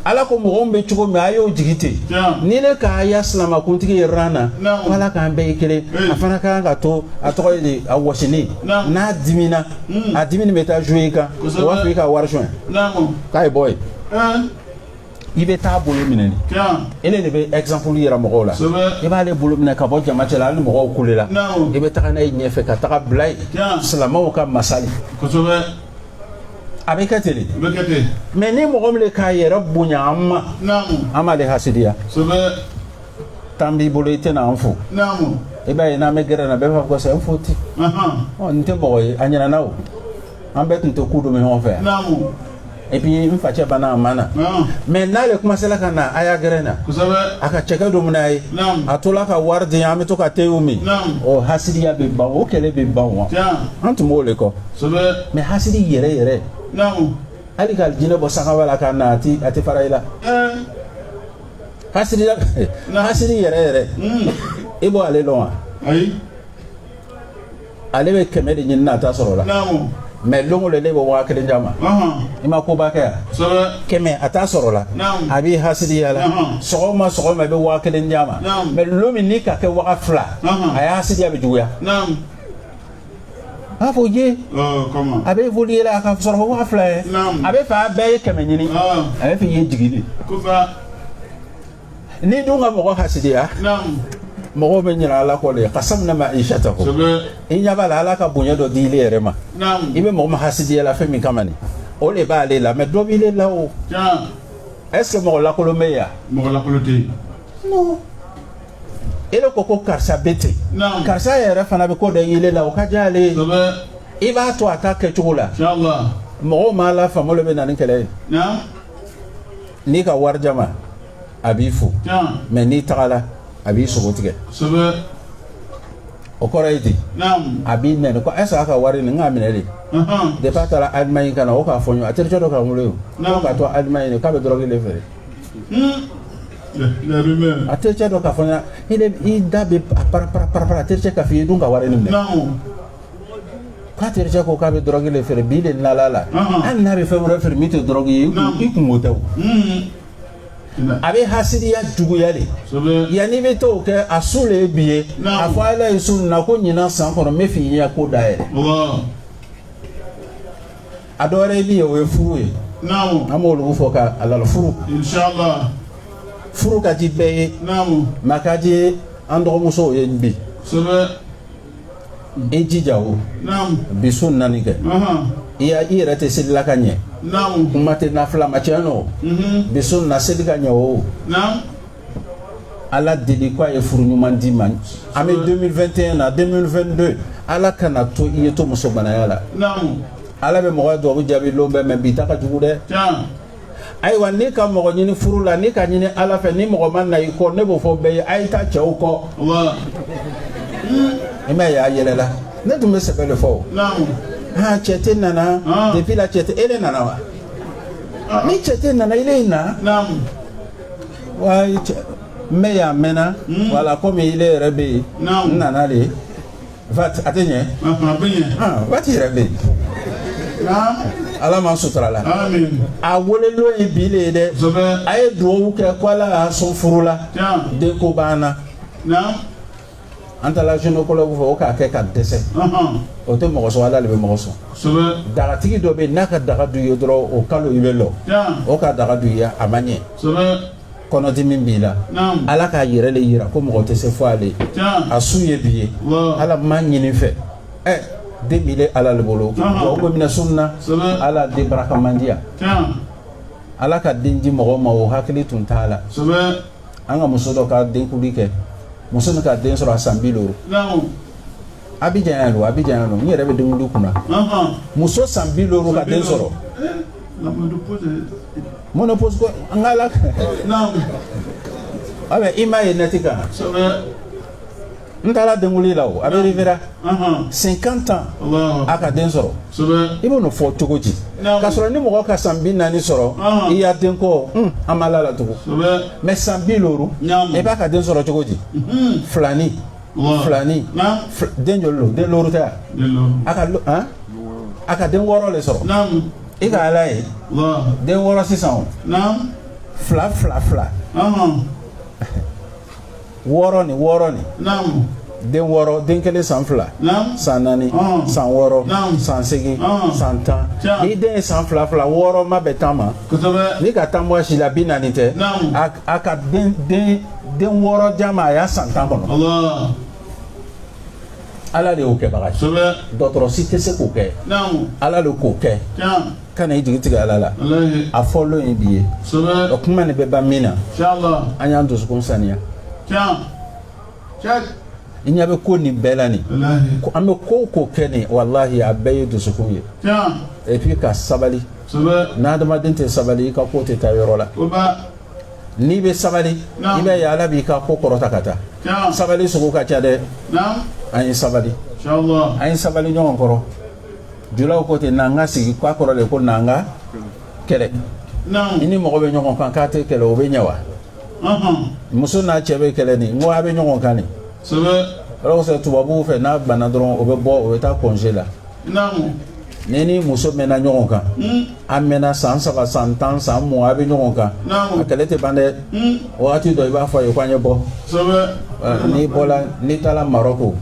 ala ko mɔgɔ min bɛ cogo min a y'o jigi ten ni ne k'a ya silamakuntigi ye ran na ko ala k'an bɛɛ ye kelen a fana ka kan ka to a tɔgɔ ye de a wɔsini n'a dimina Hmm. A dimi bɛ taa jouer i kan. Kosɛbɛ. O b'a fɔ i ka wari sonya. Naamu. K'a ye bɔ yen. Ɛɛ. I bɛ taa bolo minɛ ni. Tiɲɛ. E de bɛ exemple yira mɔgɔw la. Kosɛbɛ. I b'ale bolo minɛ ka bɔ jama cɛla hali ni mɔgɔw kulela. Naamu. I bɛ taga n'a ye ɲɛfɛ ka tag'a bila yen. Tiɲɛ. Silamaw ka masali. Kosɛbɛ. A bɛ kɛ ten de. A bɛ kɛ ten. Mais ni mɔgɔ min k'a yɛrɛ bonya an ma. Naamu. An b'ale hasidiya. Kosɛbɛ. tan b'i bolo i t'an fo i b'a ye n'an bɛ gɛrɛn na bɛɛ b'a fɔ ko c'est un faux type n tɛ mɔgɔ ye a ɲinana an bɛɛ tun tɛ ku dun ɲɔgɔn fɛ yan et puis n facɛ banna a ma na mais n'ale tun sela ka na a ya gɛrɛn na a ka cɛkɛ domu n'an ye a tila ka wari di an bɛ to ka te min o hasidiya bɛ ban o kɛlɛ bɛ ban wa an tun b'o le kɔ mais hasidi yɛrɛ yɛrɛ hali k'alijinɛ bɔ sankaba la ka na a tɛ fara i la hasidi yɛrɛ yɛrɛ hmm. i bɛ ale dɔn wa ale bɛ kɛmɛ de ɲinina a t'a sɔrɔ la mɛ don o don de i bɛ waa kelen d'a ma i ma koba kɛ yan kɛmɛ a t'a sɔrɔ la a b'i hasidiya la sɔgɔma sɔgɔma i bɛ waa kelen d'a ma mɛ don min n'i k'a kɛ waga fila a ya hasidiya bɛ juguya a fɔ je a bɛ foli yɛlɛ a ka sɔrɔ ko waa fila ye a bɛ fa bɛɛ ye kɛmɛ ɲini a b'a fɛ i ye jigi de ni dun ka mɔgɔ hasidiya mɔgɔw bɛ ɲinɛ ala kɔ de ka samina ma isa ta ko i ɲɛ b'a la ala ka bonya dɔ di ile yɛrɛ ma i bɛ mɔgɔ min hasidiya la fɛn min kama nin o de b'ale la mɛ dɔ b'ile la o est ce que mɔgɔ lakolon bɛ yan mɔgɔ lakolon tɛ yen e de ko ko karisa bɛ ten karisa yɛrɛ fana bɛ ko dɔ ye ile la o ka di ale ye i b'a to a ta kɛcogo la mɔgɔw m'a la faamu bɛ na ni kɛlɛ ye n'i ka wari d'a ma a b'i fo mɛ n'i tagala a b'i sogo tigɛ o kɔrɔ ye di a b'i nɛni ko ɛsɛ a ka wari nin k'a minɛ de depi a taara alimaɲi ka na o k'a fɔ ɲɔgɔn a terikɛ dɔ k'a wolo ye k'a to alimaɲi k'a bɛ dɔrɔgu de feere a tericɛ dɔ k'a fɔ n ɲɛna i da bɛ para-para-para a tericɛ k'a fɔ i ye don ka wari in minɛ k'a tericɛ ko k'a bɛ dɔrɔgu de feere bi de nana a la hali n'a bɛ fɛn wɛrɛ feere min tɛ dɔrɔgu ye i kunko tɛ o a bɛ hasidiya juguya de yanni i bɛ t'o kɛ a su de ye bi ye a fɔ ala ye su na ko ɲinan san kɔnɔ n bɛ fini ya ko da yɛlɛ a dɔw ye min ye o ye furu ye an b'olu fɔ ka alala furu furu ka di bɛɛ ye mais a ka di an dɔgɔmusow ye bi i jija o bi su naani kɛ i i yɛrɛ tɛ selila ka ɲɛ kuma tɛ nafila ma sinon bi su na seli ka ɲɛ o Ala deli ko a ye furu ɲuman d'i ma an bɛ 2021 na 2022 Ala kana to i ye to muso gwanaya la Ala bɛ mɔgɔ dugawu jaabi lon bɛɛ mais bi ta ka jugu dɛ ayiwa n'i ka mɔgɔ ɲini furu la n'i k'a ɲini Ala fɛ ni mɔgɔ ma na i kɔ ne b'o fɔ bɛɛ ye a ye taa cɛw kɔ i m'a ye a yɛlɛla ne tun bɛ sɛbɛ de fɔ aa cɛ tɛ nana depuis la cɛ tɛ e de nana wa ni cɛ tɛ nana ile ye na mɛ y'a mɛnna wala komi ile yɛrɛ bɛ yen n nana de a tɛ ɲɛ waati yɛrɛ bɛ yen ala ma sutura la a wele lon ye bi de ye dɛ a ye dugawu kɛ ko ala y'a sɔn furu la denko banna an taara gynécologue fɛ o k'a kɛ ka dɛsɛ, anhan, o tɛ mɔgɔ sɔn Ala de bɛ mɔgɔ sɔn, kosɛbɛ, dagatigi dɔ bɛ yen n'a ka daga dun i ye dɔrɔn o kalo i bɛ lɔ, tiɲɛ, o ka daga dun i ye a ma ɲɛ, kosɛbɛ, kɔnɔdimi b'i la, naamu, Ala k'a yɛrɛ de yira ko mɔgɔ tɛ se fo ale, tiɲɛ, a su ye bi ye, wɔ, Ala n b'a ɲini i fɛ, ɛ den b'ile Ala le bolo, Anhan. wa umu mina sunna, kosɛbɛ, Ala den barakaman di yan, tiɲɛ, Ala ka den di mɔgɔ ma o hakili tun t'a la, kosɛbɛ, an ka muso dɔ ka denkuli kɛ muso min ka den sɔrɔ a san bi loru abijan yan lo abijan yan lo n yɛrɛ bɛ denkuli kunna muso san bi loru ka den sɔrɔ ménopause an ka ala a bɛ i m'a ye nɛti kan n taara denkuli la o a bɛ riviera cinquante ans a ka den sɔrɔ i b'o fɔ cogo di k'a sɔrɔ ni mɔgɔ ka san bi naani sɔrɔ i ya denko an b'a da latugu mais san bi loru i b'a ka den sɔrɔ cogo di filani filani den joli don den loru tɛ a ka a ka den wɔɔrɔ de sɔrɔ i ka ala ye den wɔɔrɔ sisan o fila fila fila wɔɔrɔ ni wɔɔrɔ ni den wɔɔrɔ den kelen san fila san naani san wɔɔrɔ san segin san tan ni den ye san fila fila wɔɔrɔ ma bɛ tan ma ni ka tan bɔ si la bi naani tɛ a ka den den den wɔɔrɔ di a ma a y'a san tan kɔnɔ ala de y'o kɛbaga ye dɔgɔtɔrɔ si tɛ se k'o kɛ ala de k'o kɛ kana i jigi tigɛ ala la a fɔlɔ in bi ye o kuma ne bɛ ban min na an y'an dusukun saniya i ɲɛ bɛ ko nin bɛɛ la nin an bɛ ko ko kɛ nin walahi a bɛɛ ye dusukun ye et puis ka sabali n'adamaden tɛ sabali i ka ko tɛ taa yɔrɔ la n'i bɛ sabali i b'a ye ala b'i ka ko kɔrɔta ka taa sabali sugu ka ca dɛ an ye sabali an ye sabali ɲɔgɔn kɔrɔ julaw ko ten n'an ka sigi k'a kɔrɔ de ko n'an ka kɛlɛ i ni mɔgɔ bɛ ɲɔgɔn kan k'a tɛ kɛlɛ o bɛ ɲɛ wa muso n'a cɛ bɛ kɛlɛ nin n ko a bɛ ɲɔgɔn kan nin yɔrɔ kosɛbɛ tubabuw fɛ n'a banna dɔrɔn o bɛ bɔ o bɛ taa congé la ne ni muso mɛnna ɲɔgɔn kan hmm. an mɛnna san saba san tan san mugan a bɛ ɲɔgɔn kan a kɛlɛ tɛ ban dɛ hmm. wagati dɔ i b'a fɔ a ye ko an ye bɔ n'i bɔra n'i taara marɔko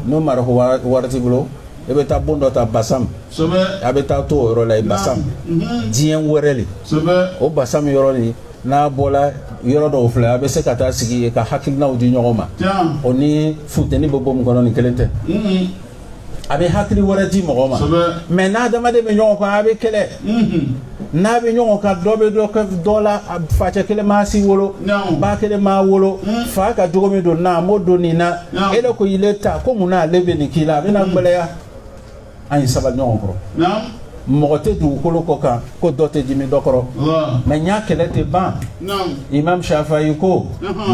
n'o marɔko wari t'i bolo e bɛ taa bon dɔ ta basam a bɛ taa to o yɔrɔ la yen basam mhm. diɲɛ wɛrɛ de o basam yɔrɔ nin n'a bɔla yɔrɔ dɔ aw fila a bɛ se ka taa sigi yen ka hakilinaw di ɲɔgɔn ma o ni funteni bɛ bon min kɔnɔ nin kelen tɛ mhm. a bɛ hakili wɛrɛ di mɔgɔ ma mɛ n'adamaden bɛ ɲɔgɔn kan a bɛ kɛlɛ mhm. n'a bɛ ɲɔgɔn kan dɔ bɛ dɔ kɛ dɔ la facɛ kelen m'a si wolo ba kelen m'a wolo hmm. fa ka jogo min don na a m'o don nin na e ko ile ta ko mun na ale bɛ nin k'i la a bɛna hmm. gɛlɛya an ye sabali ɲɔgɔn kɔrɔ mɔgɔ tɛ dugukolo kɔ kan ko dɔ tɛ dimi dɔ kɔrɔ mɛ n y'a kɛlɛ tɛ ban imam shafayi ko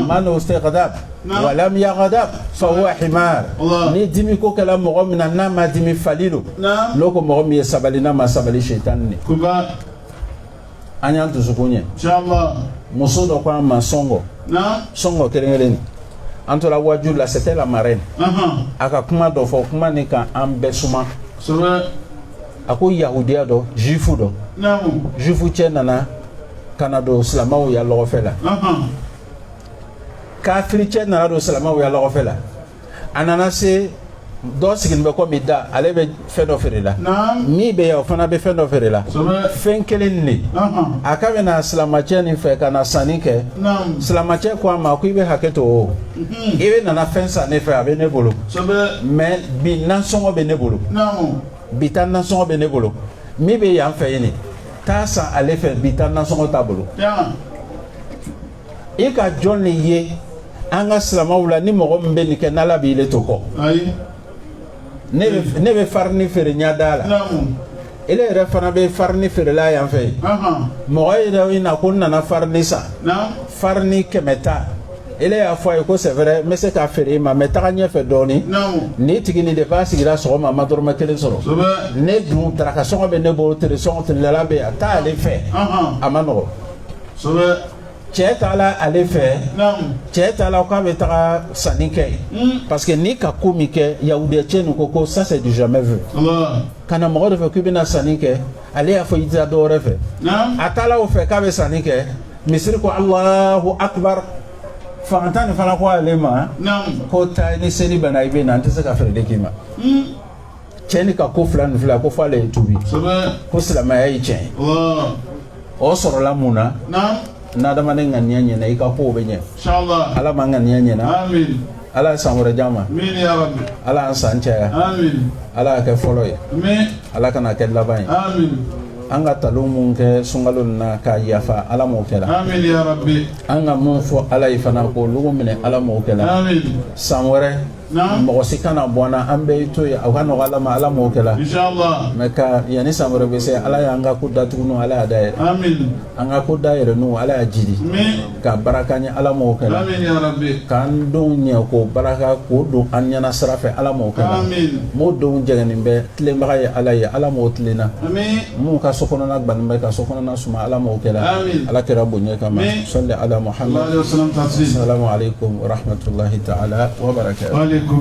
man istugdiba walam yagadab fa huwa himar ni dimi ko kɛla mɔgɔ min na n'a ma dimi fali don n'o ko mɔgɔ min ye sabali n'a ma sabali shetani de an y'an dusukun ɲɛ muso dɔ ko an ma sɔngɔ sɔngɔ kelen kelen nin an tora waju la c'était la marraine a ka kuma dɔ fɔ kuma nin ka an bɛɛ suma a ko yahudiya dɔ juifu dɔ juifu cɛ nana ka na don silamɛw ya lɔgɔfɛ la kafiri cɛ nana don silamɛw ya lɔgɔfɛ la a nana se dɔ sigilen bɛ komi da ale bɛ fɛn dɔ feere la min bɛ yan o fana bɛ fɛn dɔ feere la fɛn kelen nin de a ka bɛna silamɛcɛ nin fɛ ka na sanni kɛ silamɛcɛ ko a ma ko i bɛ hakɛ to o mhm. i bɛ nana fɛn san ne fɛ a bɛ ne bolo mɛ bi nasɔngɔ bɛ ne bolo bi ta nasɔngɔ bɛ ne bolo min bɛ yan fɛ yen nin t'a san ale fɛ bi ta nasɔngɔ t'a bolo i ka jɔn de ye an ka silamaw la ni mɔgɔ min bɛ nin kɛ n'ala b'i le to kɔ ne bɛ farini feere ɲɛdaa la ele yɛrɛ fana bɛ farini feerela yan fɛ mɔgɔ yɛrɛ in na ko n nana farini san farini kɛmɛ ta ele y'a fɔ a ye ko c'est vrai n bɛ se k'a feere i ma mais taga ɲɛfɛ dɔɔni nin tigi nin de b'a sigira sɔgɔma a ma dɔrɔmɛ kelen sɔrɔ ne dun daraka sɔngɔ bɛ ne bolo tere sɔngɔ telelala bɛ yen a t'ale fɛ a ma nɔgɔ cɛ taala ale fɛ cɛ taala k'a bɛ taga sanni kɛ hmm. parce que nin ka ko min kɛ yahudiya cɛ nin ko ko ça c'est du jamais vu ka na mɔgɔ de fɛ k'i bɛna sanni kɛ ale y'a fɔ i tɛ taa dɔ wɛrɛ fɛ a taala o fɛ k'a bɛ sanni kɛ misiri ko alahu akibar fantan nin fana ko ale ma ko taa ni seli banna i bɛ na n tɛ se ka feere de k'i ma. Hmm. cɛ nin ka ko fila ni fila ko f'ale ye tuubi ko silamɛya ye tiɲɛ ye o sɔrɔla mun na n'adamaden ŋaniya ɲɛna i ka kow bɛ ɲɛ ala m'an ŋaniya ɲɛna ala ye san wɛrɛ d'an ma ala y'an san caya ala y'a kɛ fɔlɔ ye ala kana kɛ laban ye an ka talon mun kɛ sunkalo na k'a yafa ala m'o kɛra an ka mun fɔ ala ye fana k'olugu minɛ ala m'o kɛra san wɛrɛ mɔgɔ si kana bɔ an na an bɛɛ to yen o ka nɔgɔ ala ma ala m'o kɛla mɛ ka yanni san wɛrɛ bɛ se ala y'an ka ko datuguninw ala y'a dayɛrɛ an ka ko dayɛrɛninw ala y'a jiri ka baraka ɲɛ ala m'o kɛla k'an denw ɲɛ k'o baraka k'o don an ɲɛna sira fɛ ala m'o kɛla mun denw jɛngɛnnen bɛ tilenbaga ye ala ye ala m'o tilenna minnu ka so kɔnɔna gannen bɛ ka so kɔnɔna suma Ala m'o kɛla aamina Ala kira bonya kama amina sɔli Ala Mahamadu salalahu alehi wasalamu tasiliima salamu aleyikum warahmatulahi taala wabarakɛtu wa aleyikum